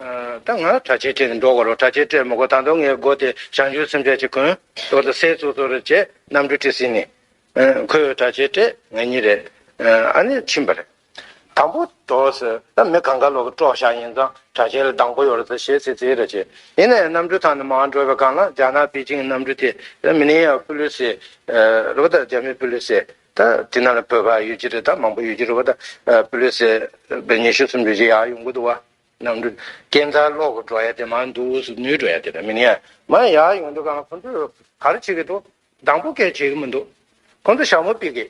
ད་ང་དྲ་ཕྱེད་སྤྲད་ནས་འགྲོ་དགོས་རོགས་དྲ་ཕྱེད་སྤྲད་མི་དགོས་ད་དུང་ངའི་སྒོ་དེ་བྱང་ཆུབ་སེམས་དཔའ་གཅིག་གོན། ཟོ་དང་ཟས་ཟོ་ཟོ་རེད་ཅེས་གནམ་གྲུ་དཀྲིས་ཟིན་ནས། ཁོས་དྲ་ཕྱེད་སྤྲད་ངེས་ཉིན་རེད། ཨ་ནེ་ཕྱིན་པ་རེད། དང་པོ་འགྲོ་ཟེར་ད་མི་གང་ག་ལོག་གི་དཀྲོག་བཞག་ཡིན་ཙང་དྲ་ཕྱེད་ལ་སྡང་པོ་ཡོད་རེད་ཟེར་ཞེས་ཚིག་རྩེ་རེ་བྱས། ཡིན་ན་ཡང་གནམ་གྲུ་ཐང་ནས་མ་འགྲོ་བའི་སྒང་ལ་རྒྱ་ནག་པེ་ཅིང་གི་གནམ་གྲུ་དེ། མི་ནེ་ཡ་པུ་ལུས་སེ། རེད་པ་ད་རྒྱ་མི་པུ་ལུས་སེ། ད་དེ་ན་ལ་བོད་པ་ཡོད་ཀྱི་རེད་ད་མང་པོ་ཡོད་ཀྱི་རེད་བ་ད་པུ་ལེ་སེ་བའི་ཉི་ཤུ་སུམ་ཅུ་ཞིག་ཡག་ཡོང་གི་འདུག་བ་ནམ་འདུག་སྐྱེ་མཚར་གློག་གི་འགྲོ་ཡ་དེ་མ་འདུག་སུ་ནུའི་འགྲོ་ཡ་དེ་རེད་མི་ནི་ཡ་མ་ཡ་ཡག་ཡོང་འདུག་ག་ཁོང་ཚོས་ག་རེ་བྱེད་ཀྱི་འདུག་དང་པོ་སྐད་བྱེད་ཀྱི་མི་འདུག་ཁོང་ཚོ་ཞྭ་མོ་སྤིག་གི་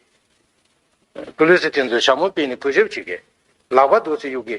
པུ་ལེ་སེ་དེ་ཚོས་ཞྭ་མོ་སྤིག་ནས་གུས་ཞབས་བྱེད་ཀྱི་ལག་པ་རྡོ་སེ་གཡུག་གི་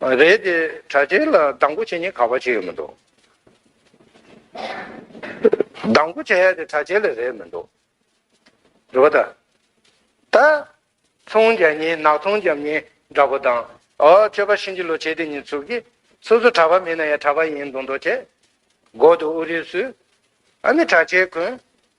རེད་དེ་དྲ་རྒྱའི་ལ་སྡང་པོ་བྱེད་ཉེན་ཁ་བ་ཅི་ཡོད་མི་འདུག། སྡང་པོ་བྱེད་ཡ་དེ་དྲ་རྒྱའི་ལ་རེད་མི་འདུག་རེད་བ་ད། ད། ཚོང་རྒྱ་ཉིན་ནག་ཚོང་རྒྱམ་ཉིན་འདྲ་པོ་དང། ཨོ་ཁྱོད་པ་ཤིན་ཅི་ལོ་བྱེད་དེ་ཉིན་ཚུགས་ཀྱི། སོ་སོ་དྲ་བ་མིན་ན་ཡ་དྲ་བ་ཡིན་འདུག་འདོག་བྱེད། སྒོ་དུ་ཨུ་རིགས་སུས། ཨ་ནི་དྲ་རྒྱའི་གོན།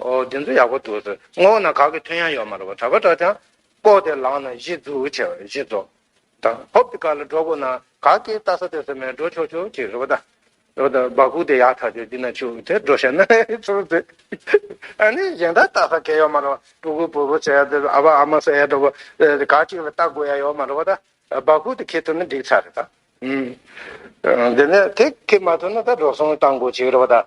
ཨོ་འདི་ཚོ་ཡག་པོ་འདུག་ཟེར་སྔོན་ན་ག་གི་མཐུན་ཡང་ཡོད་མ་རེད་པ་གྲ་པ་འདྲ་ཅང་ལྐོག་དེ་ལག་ན་གཞི་འཛུགས་ཆེ་བ་རེད་གཞི་རྫོགས་ད་ཧོབ་ཏི་ཀ་ལ་འགྲོ་དགོས་ན་ག་གི་ལྟ་ས་ལྟོས་ས་མེད་འགྲོ་ཆོག་ཆོག་ཅིག་རེད་པ་ད་རེད་པ་ད་སྦག་ཁུག་དེ་ཡག་ཐག་ཆོད་འདི་ན་ཆུག་དེ་འགྲོ་ཤེས་ན་ཆུག་ཟེར་ཨ་ནི་གཞན་དག་ལྟ་ས་སྐལ་ཡོད་མ་རེད་པ་སྤྲུལ་སྐུ་བུ་བུ་ཟེར་ཡ་འདི་ཨ་ཕ་ཨ་མ་ཟེར་ཡ་འདྲ་པོ་ག་གཅིག་ལ་ལྟ་དགོས་ཡ་ཡོད་མ་རེད་པ་ད་སྦག་ཁུག་དེ་ཁེལ་ཐུབ་ན་འགྲིག་ཚར་རེད་ད་ཨུ་འདི་ནས་དེ་ཁེལ་མ་ཐུབ་ན་ད་འགྲོ་སོང་བཏང་དགོས་ཅིག་རེད་པ་ད་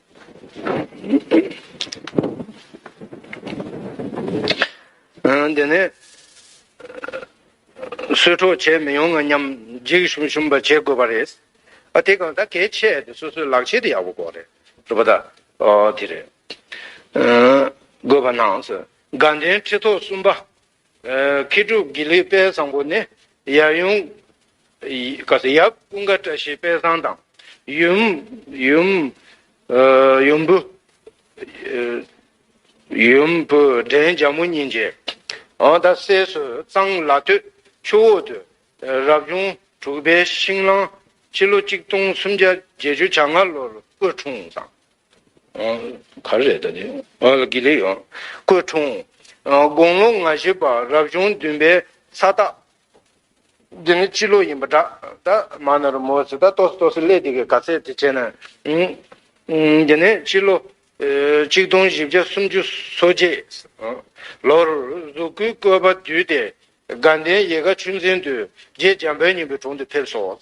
དེ་ནས་གསོད་འཕྲོག་བྱེད་མི་ཡོང་ང་སྙམ། འཇིགས་ཞུམ་ཞུམ་པ་བྱེད་དགོས་པ་རེད། ཨ་དེ་གང་ད་གལ་ཆེ་དེ་སོ་སོའི་ལག་ཆས་དེ་ཡག་པོ་དགོས་རེད། རེད་པ་ད། ཨོ་དེ་རེད། དགོས་པ་ནང་སོ། དགའ་ལྡན་ཁྲི་ཐོག་གསུམ་པ། མཁས་གྲུབ་དགེ་ལེགས་དཔལ་བཟང་པོ་ནི། ཡབ་ཡུམ་ཀུན་དགའ་བཀྲ་ཤིས་དཔལ་བཟང་དང། ཡུམ། བུ། བྲན་རྒྱ་མོ་གཉིས་མཇལ། འོ་ད་སྲས་སུ་གཙང་བླ་སྟོད་ཆུ་འོག་ཏུ། རབ་བྱུང་དྲུག་པའི་ཤིང་གླང། སྤྱི་ལོ་གཅིག་སྟོང་སུམ་བརྒྱ་བརྒྱད་ཅུ་གྱ་ལྔ་ལོར་སྐུ་འཁྲུངས། ག་རེ་རེད་ད་དེ། དགེ་ལེགས་ཡོང། སྐུ་འཁྲུངས། དགུང་ལོ་ང་བཞི་པ་རབ་བྱུང་བདུན་པའི་ས་སྟག། འདི་ནི་སྤྱི་ལོ་ཡིན་པ་འདྲ། ད་མ་ན་རུ་མོ་ཚོས་ད་ལྟོགས་སུ་ལྟོགས་སུ་སླེབས་འདི་གའི་ག་ཚད་དེ་བྱས་ན། འདི་ནི་སྤྱི་ལོ། གཅིག་སྟོང་བཞི་བརྒྱ་སུམ་ཅུ་སོ་གཅིག། ལོར། གཟུགས་སྐུའི་བཀོད་པ་བསྡུས་ཏེ། དགའ་ལྡན་ཡེ་དགའ་ཆུ་འཛིན་དུ། རྗེ་འཇམ་དཔལ་སྙིང་པོའི་དྲུང་དུ་ཕེབས་སོ།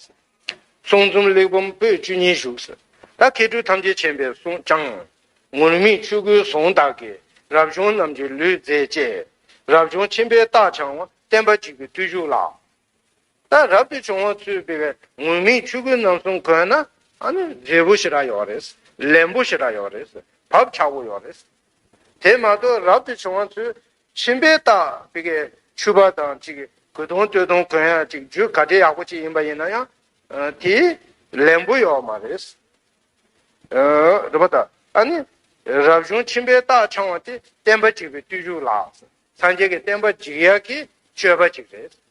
གསུང་རྩོམ་གླེགས་བམ་པོད་བཅུ་གཉིས་བཞུགས། ད་མཁས་གྲུབ་ཐམས་ཅད་མཁྱེན་པའི་གསུང་བྱང། ངུར་སྨྲིག་ཆོས་སྐུའི་གཟུངས་བདག་གིས། རབ་བྱུང་རྣམས་ཀྱི་ལུས་མཛེས་བཅས། རབ་བྱུང་ཆེན་པོའི་རྟགས་འཆང་བ། བསྟན་པ་འཇིག་པའི་བརྟུལ་ཞུགས་ལ། ད་རབ་ཏུ་བྱུང་བ་ཚུལ་དཔེ་བའི། ངུར་སྨྲིག་ཆོས་སྐུའི་རྣམ་གསུམ་གོས་ན། མཛེས་པོ་ཞེས་དྲག་ཡོད་རེད། ལེན་པོ་ཞེས་དྲག་ཡོད་རེད། བབ་ཆགས་པོ་ཡོད་རེད། དེ་མ་གཏོགས་རབ་ཏུ་བྱུང་བ་ཚུལ། ཤིང་བལ་དང་བེ་གའི་ཆུ་བ་དང་གཅིག་གོས་དུང་སྟོད་དུང་གོན་ཡང་གཅིག་རྒྱུ་ག་དྲི་ཡག་པོ་གཅིག་ཡིན་པ་ཡིན་ན་ཡང་དེ་ལན་པོ་ཡོད་མ་རེད། རེད་པ་ད་ཨ་ནི་རབ་བྱུང་ཁྱིམ་པའི་རྟགས་འཆང་བ་དེ་བསྟན་པ་འཇིག་པའི་བརྟུལ་ཞུགས་ལགས་སོ། སངས་རྒྱས་ཀྱི་བསྟན་པ་འཇིག་ཡག་གི་སྤྱོད་པ་ཅིག་རེད།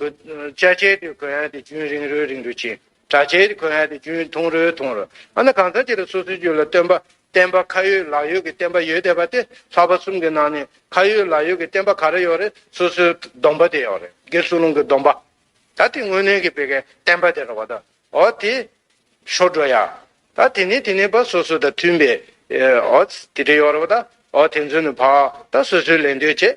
བཅའ་བྱའི་དུས་གོ་ཡང་དེ་རྒྱུན་རིང་རོའི་རིང་རུ་བྱེད། དྲག་བྱའི་དུས་གོ་ཡང་དེ་རྒྱུན་ཐུང་རོའི་ཐུང་རུ། འོ་ན་གང་ཟག་ཅིག་ལ་སོ་སོའི་རྒྱུད་ལ་སྟོན་པ་བསྟན་པ་ཁ་ཡོད་ལག་ཡོད་ཀྱི་བསྟན་པ་ཡོད་དེ་པ་དེ་ལྷག་པ་གསུམ་གྱི་ནང་ནས་ཁ་ཡོད་ལག་ཡོད་ཀྱི་བསྟན་པ་ག་རེ་ཡོད་རེད་སོ་སོའི་སྡོམ་པ་དེ་ཡོད་རེད་དགེ་སུ་ལུང་གི་སྡོམ་པ། ད་དེ་དངོས་གནས་ཀྱི་བེ་གའི་བསྟན་པ་དེ་རེད་བ་ད། འོ་དེ། ཤོར་འགྲོ་ཡ། ད་དེ་ནས་དེ་ནས་བ་སོ་སོ་དང་མཐུན་པའི། འོ། དེ་དེ་ཡོད་རེད་བ་ད། འོ་དེ་ཚོས་ནི་བ། ད་སོ་སོའི་ལས་འདོད་བྱེད།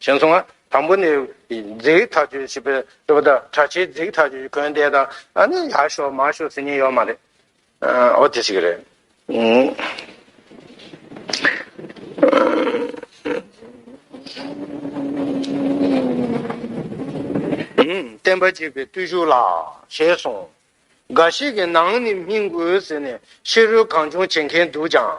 གཞན་སོང་ང། དང་པོ་ནི། རྫིག་ཐག་ཆོད་བྱེད་པའི་སྤྱོད་པ་དང་གྲ་ཆའི་རྫིག་ཐག་ཆོད་གོན་བསྡད་དང་ཨ་ནི་ཡག་ཤོག་མ་ཤོག་ཟེར་ཉེན་ཡོད་མ་རེད། ཨོ་དེ་ཞིག་རེད། བསྟན་པ་གཅིག་པའི་བརྟུལ་ཞུགས་ལ། ཞེས་གསུངས། འགའ་ཞིག་གིས་ནང་ནི་སྨིན་དགོས་ཟེར་ནས་ཕྱི་རོལ་གང་བྱུང་བྱེད་མཁན་འདུག་ཀྱང།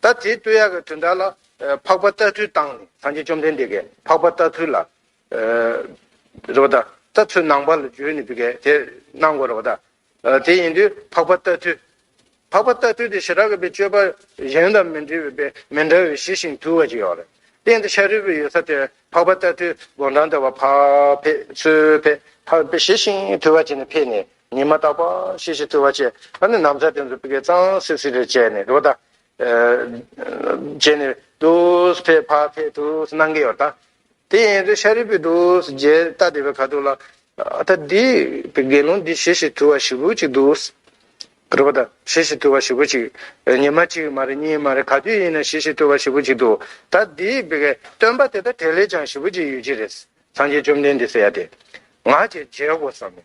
ད་དེའི་སྟོད་ཡག་གི་དུས་འདའ་ལ། འཕགས་པ་ལྟ་ཚུལ་བཏང་ནས། སངས་རྒྱས་བཅོམ་ལྡན་འདས་ཀྱིས་འཕགས་པ་ལྟ་ཚུལ་ལ། རེ་བ་ད། ལྟ་ཚུལ་ནང་པ་ལ་བརྗོད་ནས་པའི་དེ་གནང་གོ་རེ་བ་ད། དེ་ཡིན་དུས་འཕགས་པ་ལྟ་ཚུལ། འཕགས་པ་ལྟ་ཚུལ་དེ་ཞི་རགས་གི་པའི་སྤྱོད་པ་གཞན་དང་མི་འདྲི་བའི་པའི་མི་འདྲ་བའི་ཞི་ཞིང་དུལ་བ་ཅིག་ཡོད་རེད། གཏན་དུ་ཤཱ་རིའི་བུ་ཡོད་ས་དེར་འཕགས་པ་ལྟ་ཚུལ་དགོངས་དྲང་ལྟ་བ་འཕགས་ཕེབས་ཚུལ་ཕེབས། འཕགས་པའི་ཞི་ཞིང་དུལ་བ་བྱས་ནས་ཕེབས་ནས། ཉི་མ་རྟག་པ་ཤེས་ཤེས་ཐུལ་བ་བཅས་ད་ནི་ནམ་ཚ་དེ་ཚོ་སྤི་ཀའི་གཙང་སིལ་སིལ་རེ་བྱས་ནས་རོ་ད་བྱས་ནས་དུས་ཕེབས་ཕ་ཕེབས་དུས་གནང་གི་ཡོད་ད། དེ་ཡིན་ཚེ་ཤ་རི་པའི་དུས་རྗེས་རྟག་དེ་བས་ག་འདུག་ལ། ད་འདི་པའི་དགེ་སློང་འདི་ཤེས་ཤེས་ཐུལ་བ་ཞི་བུ་ཅིག་འདུག། རོ་ད་ཤེས་ཤེས་ཐུལ་བ་ཞི་བུ་ཅིག་ཉི་མ་གཅིག་མ་རེད་གཉིས་མ་རེད་ག་དུས་ཡིན་ན་ཤེས་ཤེས་ཐུལ་བ་ཞི་བུ་ཅིག་འདུག་ད་འདི་པའི་སྟོན་པ་དེ་ད་དེ་ལས་ཀྱང་ཞི་བུ་ཅིག་ཡོད་ཀྱི་རེད། སངས་རྒྱས་བཅོམ་ལྡན་འདས་སེ་ཡ་དེ། ང་བྱས་བྱས་དགོས་བསམ་མོད།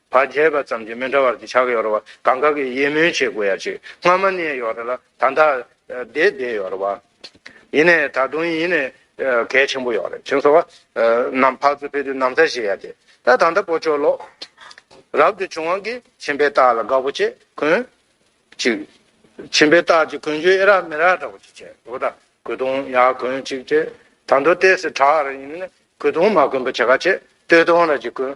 བ་བརྒྱད་པ་ཙམ་གྱི་མི་འདྲ་བར་གྱི་ཕྱག་གཡོར་བ་གང་ག་གི་དབྱེ་སྨོན་བྱེད་དགོས་ཡ་གཅིག་སྔ་མ་ནས་ཡོ་ར་ལ་ད་འདའ་དེ་དེ་ཡོ་ར་བ་ཡིན་ནས་ད་དུང་ཡིན་ནས་གལ་ཆེན་པོ་ཡོ་ར་ཆེན་སོ་བ་རྣམས་ཕག་ཚོ་ཕེ་དུ་ནམ་ཚ་བྱེད་ཡ་དེ་ད་ད་འདའ་པོ་ཅོ་ལོ་རབ་ཏུ་བྱུང་བ་གི་ཆེན་པའི་རྟགས་ལ་དགའ་བོ་ཆེ་གོན་ཅིག་ཆེན་པའི་རྟགས་ཀྱི་གོན་རྒྱུ་ཨེ་རག་མི་རག་འདྲ་བོ་ཅིག་བྱེད་དགོས་ད་གུ་དུང་ཡ་གོན་ཅིག་ཅེས་ད་འདོ་ལྟས་སི་བྲག་ར་ཡིན་ནས་གུ་དུང་མ་གོན་པོ་ཆེ་ག་ཆེ་སྟོད་དོང་ར་གྱི་གོན་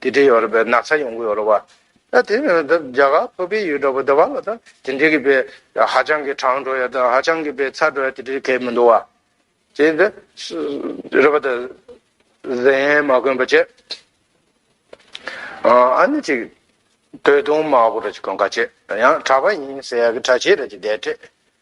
དེ་འདྲའི་ཡོད་རེད་པས་ན་ཚ་ཡོང་གི་ཡོད་རེད་བ། ད་དེ་ནི་ད་རྒྱ་གར་བོད་པའི་ཡུལ་གྲགས་པ་འདི་ག་ལ་ད་དེ་འདྲའི་གི་བས་ཧ་ཅང་གི་གྲང་འགྲོ་ཡ་ད་ཧ་ཅང་གི་བས་ཚ་འགྲོ་ཡ་དེ་འདྲའི་གས་མི་འདུག་བ། དེ་འདི་རེད་པ་ད་གཟན་མ་གོན་པ་བྱས། ཨ་ནི་ཅིག་བོད་དོན་མ་གོ་ར་ཅིག་གོན་ག་བྱས་ཡང་གྲགས་པ་ཡིན་ཟེར་ཡ་གི་གྲ་བྱས་ར་ཅིག་བསྡད་བྲེད་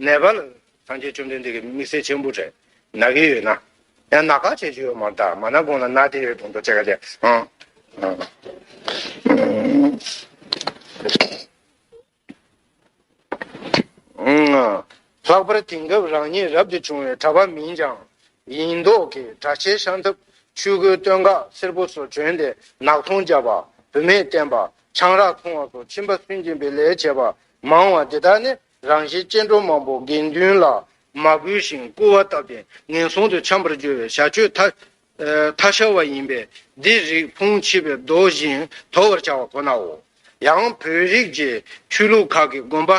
ནད་པ་ལ་སངས་རྒྱས་བཅོམ་ལྡན་འདས་ཀྱིས་དམིགས་བསལ་ཆེན་པོ་བྲལ་ན་གི་ཡོད་ན། ཡང་ན་ག་བྱེད་ཀྱི་ཡོད་མ་གདའ་མ་ན་གོང་ལ་ན་དེ་ཡོད་དུ་འདུག་ཅེས་ག་བྱེད་ཨང། ལྷག་པར་དེང་སྐབས་རང་ཉིད་རབ་ཏུ་བྱུང་བའི་གྲྭ་པ་མིན་ཀྱང་ཡིན་མདོག་གིས་གྲྭ་ཆས་ཤང་ཐབ་ཆུས་གོས་སྟོད་འགག་སེར་པོ་སོགས་གྱོན་ཏེ་ནག་འཐུང་རྒྱབ་པ་བུད་མེད་བསྟེན་པ་ཆང་རག་འཐུང་བ་སོགས་ཁྱིམ་པ་སུན་འབྱིན་པའི་ལས་བྱེད་པ་མང་བ་འདི་དག་ནི་རང་བཞིན་སྐྱེ་འགྲོ་མང་པོ་དགེ་འདུན་ལ་མ་གུས་ཤིང་སྐུར་བ་བཏབ་པས་ངན་སོང་དུ་འཁྱམས་པར་འགྱུར་བའི་བྱ་སྤྱོད་ཐ་ཐ་ཤལ་བ་ཡིན་པས་འདིར་རིགས་ཕུང་མཆིས་པའི་མདོ་བཞིན་དོར་བར་བྱ་བ་ཁོ་ནའོ། ཡང་བོད་རིགས་ཀྱི་ཆོས་ལུགས་ཁག་གི་དགོན་པ།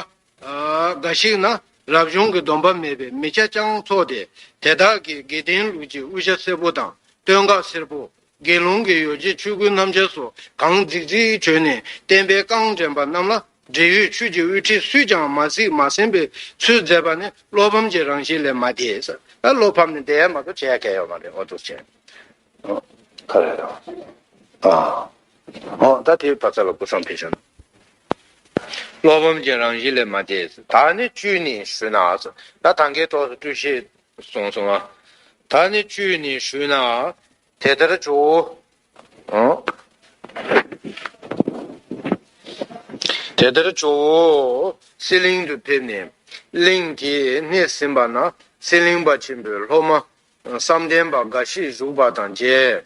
འགའ་ཞིག་ན་རབ་བྱུང་གི་སྡོམ་པ་མེད་པའི་མི་ཁྱ་སྤྱང་ཚོགས་ཏེ་དེ་དག་གིས་དགེ་ལྡན་ལུགས་ཀྱི་དབུ་ཞྭ་སེར་པོ་དང་སྟོད་འགག་སེར་པོ། དགེ་སློང་གི་ཡོ་བྱད་ཆོས་གོས་སྣམ་སྦྱར་སོགས་གང་རྫིག་རྫིག་བྱོན་ནས་བསྟན་པའི་རྐང་འདྲེན་པ་རྣམས་ལ་འབྲེལ་ཡོད་ཆོས་ཀྱི་དབུ་ཁྲིད་སུས་ཀྱང་མ་གཟིགས་མ་ཟིན་པའི་ཚུལ་མཛད་པ་ནི་བློ་ཕམ་གྱི་རང་བཞིན་ལས་མ་འདས། བློ་ཕམ་ནི་འདས་མ་གཏོགས་བྱས་སྐལ་བ་མ་རེད་འོ་དོ་ཅན། ཁ་རེད་དང། འོ་ད་དེའི་བར་ཚ་ལ་གུ་སང་ཕེ་བྱོན། བློ་ཕམ་གྱི་རང་བཞིན་ལས་མ་འདས། ད་ནི་བཅུད་ནི་ཞུ་ན། ད་ད་གའི་ཐོག་སུ་བཀྲུ་བཤལ་གསུངས་སོ། ད་ནི་བཅུད་ནི་ཞུས་ན། དེ་ལྟར་བྱའོ། དེ་ལྟར་བྱའོ། གསེར་གླིང་དུ་ཕེབས་ནས། གླིང་དེའི་སྣེར་ཟིན་པ་ན་གསེར་གླིང་པ་ཆེན་པོའི་སློབ་མ། བསམ་གཏན་པ་འགའ་ཞིག་བཞུགས་པ་དང་མཇལ།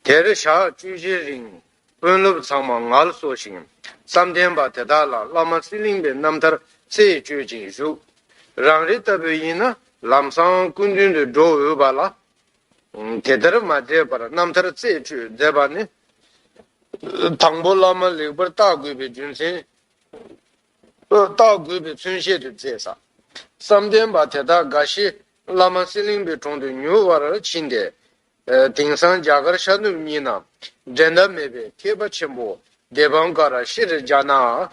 དེར་ཞག་བཅུ་བཞིའི་རིང། དཔོན་སློབ་ཚང་མ་ངལ་གསོ་ཞིང་བསམ་གཏན་པ་དེ་དག་ལ་བླ་མ་ཚེ་གླིང་པའི་རྣམ་ཐར་རྩད་གཅོད་ཅིང་བཞུགས། རང་རེ་ལྟ་བུ་ཡིན་ན་ལམ་སང་སྐུ་མདུན་དུ་འགྲོ་འོས་པ་ལ། དེ་ལྟར་མ་བསྡད་པར་རྣམ་ཐར་རྩད་གཅོད་མཛད་པ་ནི། དང་པོ་བླ་མ་ལེགས་པར་བརྟག་དགོས་པའི་རྒྱུ་མཚན། བརྟག་དགོས་པའི་མཚོན་བཤད་དུ་མཛད། བསམ་གཏན་པ་དེ་དག་འགའ་ཤས་བླ་མ་ཚེ་གླིང་པའི་དྲུང་དུ་ཉུལ་བར་ཕྱིན་ཏེ། དེང་སང་རྒྱ་གར་ཤར་ནུབ་གཉིས་ན་འགྲན་ཟླ་མེད་པའི་མཁས་པ་ཆེན་པོ་སྡེ་འབངས་ཀ་ར་ཤི་རི་ཇཱ་ནཱ་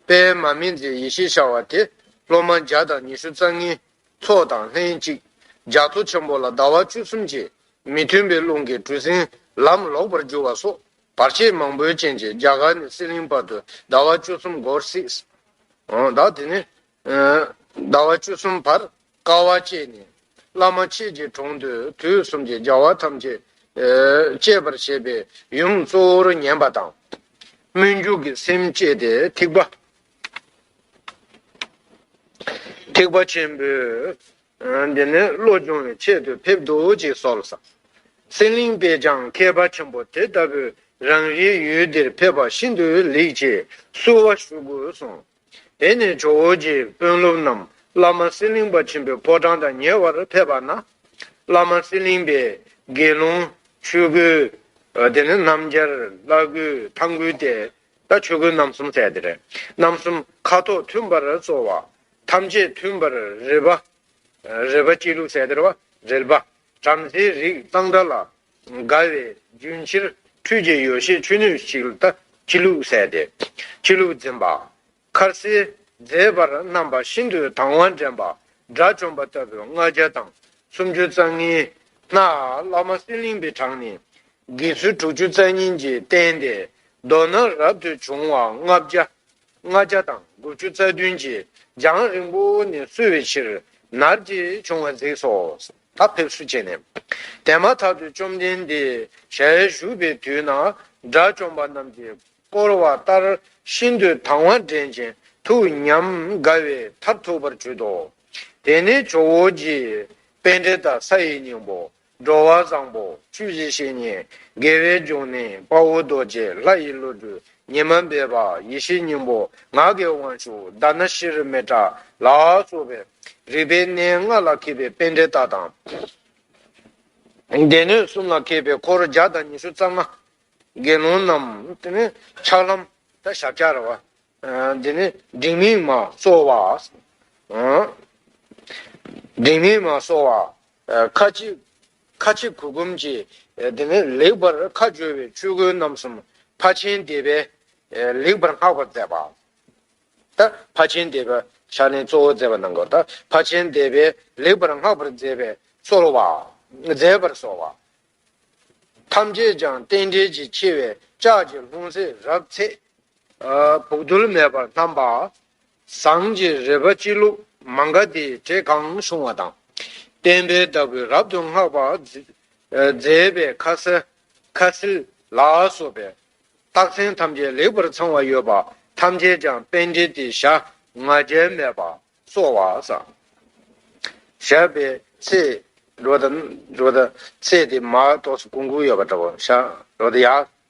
པའི་མ་སྨིན་མཛད་ཡེ་ཤེས་བྱ་བ་དེ་སློབ་མ་བརྒྱ་དང་ཉི་ཤུ་རྩ་ལྔའི་ཚོགས་དང་ལྷན་ཅིག་རྒྱ་མཚོ་ཆེན་པོ་ལ་ཟླ་བ་བཅུ་གསུམ་གྱི་མི་མཐུན་པའི་རླུང་གིས་གྲུ་གཟིངས་ལམ་ལོག་པར་གྱུར་བ་སོགས་བར་ཆད་མང་པོའི་རྐྱེན་གྱིས་རྒྱ་གར་ནས་སྲིད་གླིང་བར་དུ་ཟླ་བ་བཅུ་གསུམ་འགོར་སྲིད། དེ་ནས་ཟླ་བ་བཅུ་གསུམ་བར་དཀའ་བ་སྤྱད་ནས། བླ་མ་མཆེད་ཀྱི་གྲོང་དུ་དུས་གསུམ་གྱི་བྱ་བ་ཐམས་ཅད་སྤྱད་པར་བྱེད་པའི་ཡུམ་གཙོ་བོར་ཉན་པ་དང། སྨོན་འཇུག་གི་སེམས་བསྐྱེད་དེ་ཐིགས་པ། ཐིགས་པ་ཆེན་པོས་འདི་ནས་བློ་སྦྱོང་བའི་ཆེད་དུ་ཕེབས་འདུག་ཅེས་གསོལ། སེར་གླིང་དཔལ་བྱང་མཁས་པ་ཆེན་པོ་དེ་ལྟ་བུས་རང་རེའི་ཡུལ་འདིར་ཕེབས་པ་ཤིན་ཏུ་ལེགས་ཅེས་བསུ་བ་ཞུ་དགོས་གསུངས། དེ་ནས་ཇོ་བོ་རྗེས་དཔོན་སློབ་རྣམས་བླ་མ་གསེར་གླིང་པ་ཆེན་པོའི་ཕོ་བྲང་དང་ཉེ་བར་ཕེབས་པ་ན། བླ་མ་གསེར་གླིང་པས་དགེ་སློང། ཆོས་གོས། དེ་ནས་སྣམ་སྦྱར། བླ་གོས་ཐང་གོས་ཏེ། ད་ཆོས་གོས་རྣམ་གསུམ་བསྩལ་ཏེ། རྣམ་གསུམ་ཁ་དོག་མཐུན་པར་སྩོལ་བ། ཐམས་ཅད་མཐུན་པར་རེ་བ། རེ་བ་སྐྱེས་ལུགས་བསྩལ་ཏེ། རེལ་པ། བྲམ་ཟེའི་རིགས་གཙང་སྦྲ་ལ། དགའ་བའི་རྒྱུན་ཕྱིར་འཁྲུད་ཀྱི་ཡོ་བྱད་ཆུ་སྣོད་ཞིག་ལ་ལྟ། ཁྱི་ལུག་བཟས་ཏེ་ཁྱི་ལུག་འཛིན་པ། ཁ་ཟས་མཛེས་པར་བསྣམས་པ་ཤིན་ཏུ་དང་བ་འདྲེན་པ་དགྲ་བཅོམ་པ་ལྟ་བུའི་ལྔ་བརྒྱ་དང་སུམ་ཅུ་རྩ་ལྔའི་སྔགས་བླ་མ་གསེར་གླིང་པའི་བྲག་ནས་དགེ་ཚུལ་དྲུག་ཅུ་རྩ་གཉིས་ཀྱིས་བསྟན་ཏེ་མདོར་ན་རབ་ཏུ་བྱུང་བ་ལྔ་བརྒྱ་ལྔ་བརྒྱ་དང་དགུ་བཅུ་རྩ་བདུན་གྱིས་རྒྱང་རིང་པོ་ནས་བསུ་བའི་ཕྱིར་ནར་གྱིས་བྱུང་བ་གཟིགས་སོ། ཐབས་ཕེབས་བསུ་བྱས་ནས། དེ་མ་ཐག་ཏུ་བཅོམ་ལྡན་འདས་ཞལ་བཞུགས་པའི་དུས་ན་དགྲ་བཅོམ་པ་རྣམས་ཀྱིས་བསྐོར་བ་ལྟར་ཤིན་ཏུ་དང་བ་འདྲེན་ཅིང་ཐུགས་ཉམས་དགའ་བའི་མཐར་ཐུག་པར་གྱུར་ཏོ། དེ་ནས་ཇོ་བོ་རྗེས་དཔལ་འགྲེལ་དང་ས་ཡི་སྙིང་པོ་འགྲོ་བ་བཟང་པོ་བཅུ་བཞི་བཤེས་གཉེན་དགེ་བའི་འབྱུང་གནས་དཔའ་བོ་རྡོ་རྗེ་ལྷ་ཡི་བློ་གྲོས་ཉི་མ་འབེབས་པ་ཡེ་ཤེས་སྙིང་པོ་ངག་གི་དབང་ཕྱུག་བརྡ་ན་ཤེས་རབ་མེ་དགྲ་ལ་སོགས་པའི། རིག་པའི་གནས་ལྔ་ལ་མཁས་པའི་དཔལ་འབྲས་རྟགས་དང། སྡེ་སྣོད་གསུམ་ལ་མཁས་པའི་འཁོར་བརྒྱ་དང་ཉི་ཤུ་རྩ་ལྔ། དགེ་སློང་རྣམས་ཆགས་ལམ་དང་ཞབས་བཅགས་རེ་བ། འབྲིང་མིང་མ་སོགས་བ། འབྲིང་མིང་མ་སོགས་བ། ཁ་ཅིག་ཁ་ཆེ་གུར་གུམ་གྱིས་དེ་ནས་ལེགས་པར་ཁ་སྦྱོར་བའི་ཆོས་གོས་རྣམ་གསུམ་ཕ་ཆེན་སྡེ་པས་ལེགས་པར་བསྔགས་པར་མཛད་པ། དང་ཕ་ཆེན་སྡེ་པས་ཕྱག་ལེན་གཙོ་བོ་མཛད་པ་གནང་སྐབས་དང་ཕ་ཆེན་སྡེ་པས་ལེགས་པར་བསྔགས་པར་མཛད་པའི་གསོལ་བ། མཛད་པར་གསོལ་བ། ཐམས་ཅད་ཀྱང་རྟེན་འབྲེལ་གྱི་ཆེ་བའི་ལྕགས་ཀྱི་ལྷུང་བཟེད་རབ་ཚེས། བུག་རྡུལ་མེད་པར་བསྣམས་པ། ཟངས་ཀྱི་རས་པ་སྤྱི་བླུགས་མང་ག་དེའི་གྲས་གང་བྱུང་བ་དང། བསྟན་པའི་བདག་པོས་རབ་ཏུ་བསྔགས་པར་མཛད་པའི་ཁ་ཟས་ཁ་ཟིལ་ལ་སོགས་པའི་རྟགས་མཚན་ཐམས་ཅད་ལེགས་པར་ཚང་བ་ཡོད་པ་ཐམས་ཅད་ཀྱང་དཔལ་འབྲས་ཏེ་ཞག་ང་རྒྱལ་མེད་པར་གསོ་བ་བསགས་པའི་ཚེ་རོལ་དང། ཚེ་དེ་མ་གཏོགས་སུ་ཀུན་ཀུན་ཡོད་པ་འདྲ་བོ་ཞག་རོལ་དུ་ཡང་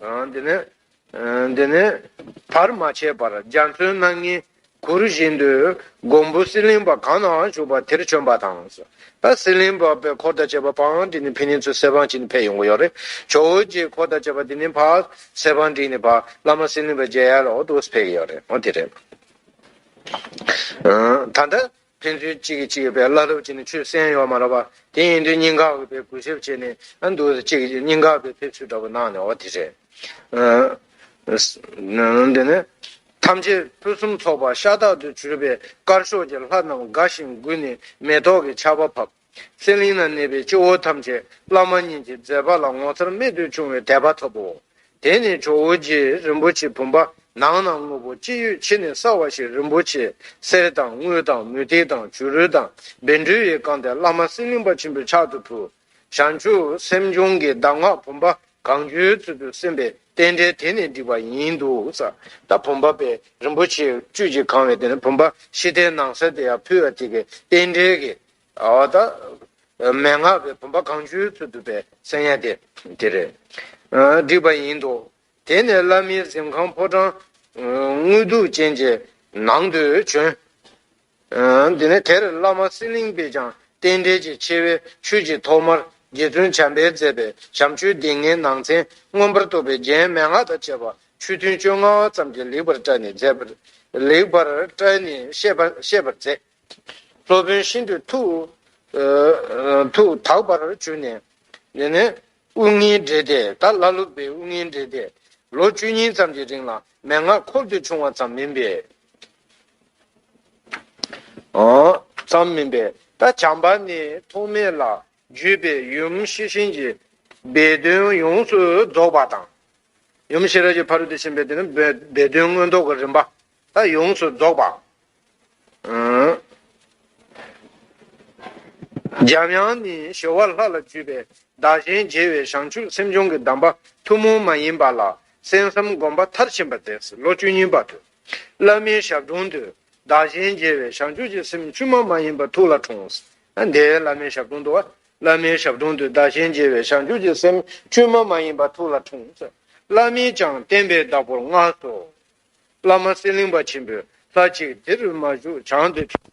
འདི་ནི་བར་མ་ཆད་པར་རྒྱ་མཚོའི་སྣ་ལྔའི་གུར་བཞིན་དུ་མགོན་པོ་གསེར་གླིང་པ་གང་ནའང་བཞུགས་པ་དེར་བྱོན་པ་དང། གསེར་གླིང་པ་པའི་འཁོར་དང་བཅས་པ་འཕང་བསྒྲིགས་ནས་ཕན་ནེ་ཚོའི་གསེར་འཕང་བྱིན་ནས་ཕེབས་ཡོང་གི་ཡོད་རེད། ཇོ་བོ་རྗེའི་འཁོར་དང་བཅས་པ་འདི་ནི་བར་གསེར་འཕང་བསྒྲིགས་ནས་བར་བླ་མ་གསེར་གླིང་པའི་མཇལ་ཡར་ལ་འོ་དོ་ཕེབས་ཀྱི་ཡོད་རེད། ད་ལྟ། ཕན་ཚུན་གཅིག་གིས་གཅིག་གི་བའི་བླ་སློབ་བྱས་ནས་ཆོས་གསན་ཡོང་མ་རག་པ་དེ་ཡིན་དུས་སྙིང་གའི་བའི་གུས་ཞབས་བྱས་ནས་འདུག་ཅིག་གིས་སྙིང་གའི་བའི་ཕེབས་བསུ་འདྲ་པོ་གནང་ནས་འོ་དེ་རེད། དེ་ནས། ཐམས་ཅད་ཕུན་སུམ་ཚོགས་པ་ཤ་སྟག་ཏུ་གྱུར་པའི་དཀར་ཕྱོགས་ཀྱི་ལྷ་རྣམས་དགའ་ཞིང་མགུ་ནས་མེ་ཏོག་གི་ཆར་བ་ཕབ། སེང་གླིང་ན་གནས་པའི་སྐྱེ་བོ་ཐམས་ཅད་བླ་མ་གཉིས་ཀྱི་མཛད་པ་ལ་ངོ་མཚར་རྨད་དུ་བྱུང་བའི་དད་པ་ཐོབ་བོ། དེ་ནས་ཇོ་བོ་རྗེས་རིན་པོ་ཆེ་བུམ་པ་ནང་ན་དངོས་པོ་ཅི་ཡོད་ཕྱི་ནས་བསགས་བ་ཞིག་རིན་པོ་ཆེ་གསེར་དང་དངུལ་དང་མུ་ཏིག་དང་བྱུ་རུ་དང་སྦལ་འབྲུལ་བས་བཀང་སྟེ་བླ་མ་སེང་གླིང་པ་ཆེན་པོའི་ཕྱག་ཏུ་ཕུལ། ཞང་ཆུང་སེམས་བྱུང་གི་གདམས་ངག་བུམ་པ་གང་བྱོའི་ཚུལ་དུ་སེམས་པའི་རྟེན་འབྲེལ་དེ་ནས་བསྒྲིགས་པ་ཡིན་འདུག་ས་དང་བུམ་པ་པས་རིན་པོ་ཆེའི་བཅུད་ཀྱིས་གང་བའི་དེ་ནས་བུམ་པ་ཤི་ཐའི་ནང་གསེར་དེ་ཡང་ཕུལ་བ་དེ་གའི་རྟེན་འབྲེལ་གྱིས། མན་ངག་པའི་བུམ་པ་གང་བཅོལ་ཚུལ་བསྡུས་པའི་གསན་ཡས་དེ། དེ་རེད། བསྒྲིགས་པ་ཡིན་འདུག་དེ་ནས་བླ་མའི་གཟིམས་ཁང་ཕོ་བྲང། དངུལ་གདུགས་ཅན་གྱི་ནང་དུ་བྱོན། དེ་ནས་དེར་བླ་མ་སྲིད་གླིང་པས་ཀྱང་རྟེན་འབྲེལ་གྱི་ཆེ་བའི་ཆོས་ཀྱི་ཐོག་མར་རྗེ་བཙུན་བྱམས་པས་མཛད་པའི་བྱམས་ཆོས་སྡེ་ལྔའི་ནང་ཚན་མངོན་པར་རྟོགས་པའི་རྒྱན་མན་ངག་དང་བཅས་པ་ཆུ་ཐུན་བཅོ་ལྔ་བ་ཙམ་གྱིས་ལེགས་པར་བཀྲལ་ནས་བཤད་པར་མཛད། སློབ་དཔོན་ཤིན་ཏུ་ཐུགས་དག་པར་གྱུར་ནས། དབུགས་ལྔའི་སྒྲས་དེ་དག་བླ་སློབ་པའི་དབུགས་ལྔའི་སྒྲས་ཏེ། ལོ་བཅུ་གཉིས་ཙམ་གྱི་རིང་ལ་མན་ངག་འཁོར་དུ་ཕྱུང་བ་ཙམ་མིན་པས། ད་བྱམས་པ་ནི་ཐོགས་མེད་ལ་བརྒྱུད་པའི་ཡུམ་ཤེས་བྱིན་གྱི་སྦས་དོན་ཡོངས་སུ་རྫོགས་པ་དང། ཡུམ་ཤེས་རབ་ཀྱི་བར་དུ་ཕྱིན་པའི་སྦས་དོན་མངོན་རྟོགས་ཀྱི་རིམ་པ། ལྟ་ཡོངས་སུ་རྫོགས་པ། འཇམ་དབྱངས་ནི་ཞོ་བ་ལྷ་ལ་འཇུས་པའི་བདག་གཞན་བརྗེ་བའི་བྱང་ཆུབ་སེམས་སྦྱོང་གི་གདམས་པ་ཐུན་མོང་མ་ཡིན་པ་ལ་གསན་བསམ་བསྒོམ་པ་མཐར་ཕྱིན་པ་མཛད་ཟིན་ལོ་བཅུ་གཉིས་པ་དུ་བླ་མའི་ཞབས་དྲུང་དུ་བདག་གཞན་བརྗེ་བའི་བྱང་ཆུབ་ཀྱི་སེམས་བཅུད་མ་མ་ཡིན་པ་ཐུགས་ལ་འཁྲུངས་ཟིན་དེའི་བླ་མའི་ཞབས་དྲུང་དུ་བླ་མའི་ཞབས་དྲུང་དུ་བདག་གཞན་བརྗེ་བའི་བྱང་ཆུབ་ཀྱི་སེམས་བཅུད་མ་མ་ཡིན་པ་ཐུགས་ལ་འཁྲུངས་ཟིན་བླ་མས་ཀྱང་བསྟན་པའི་བདག་པོར་མངགས་སོ། བླ་མ་གསེར་གླིང་པ་ཆེན་པོས་ལྷ་གཅིག་དེ་རུ་མ་བཞུགས་བྱང་དུ་ཕྱིན།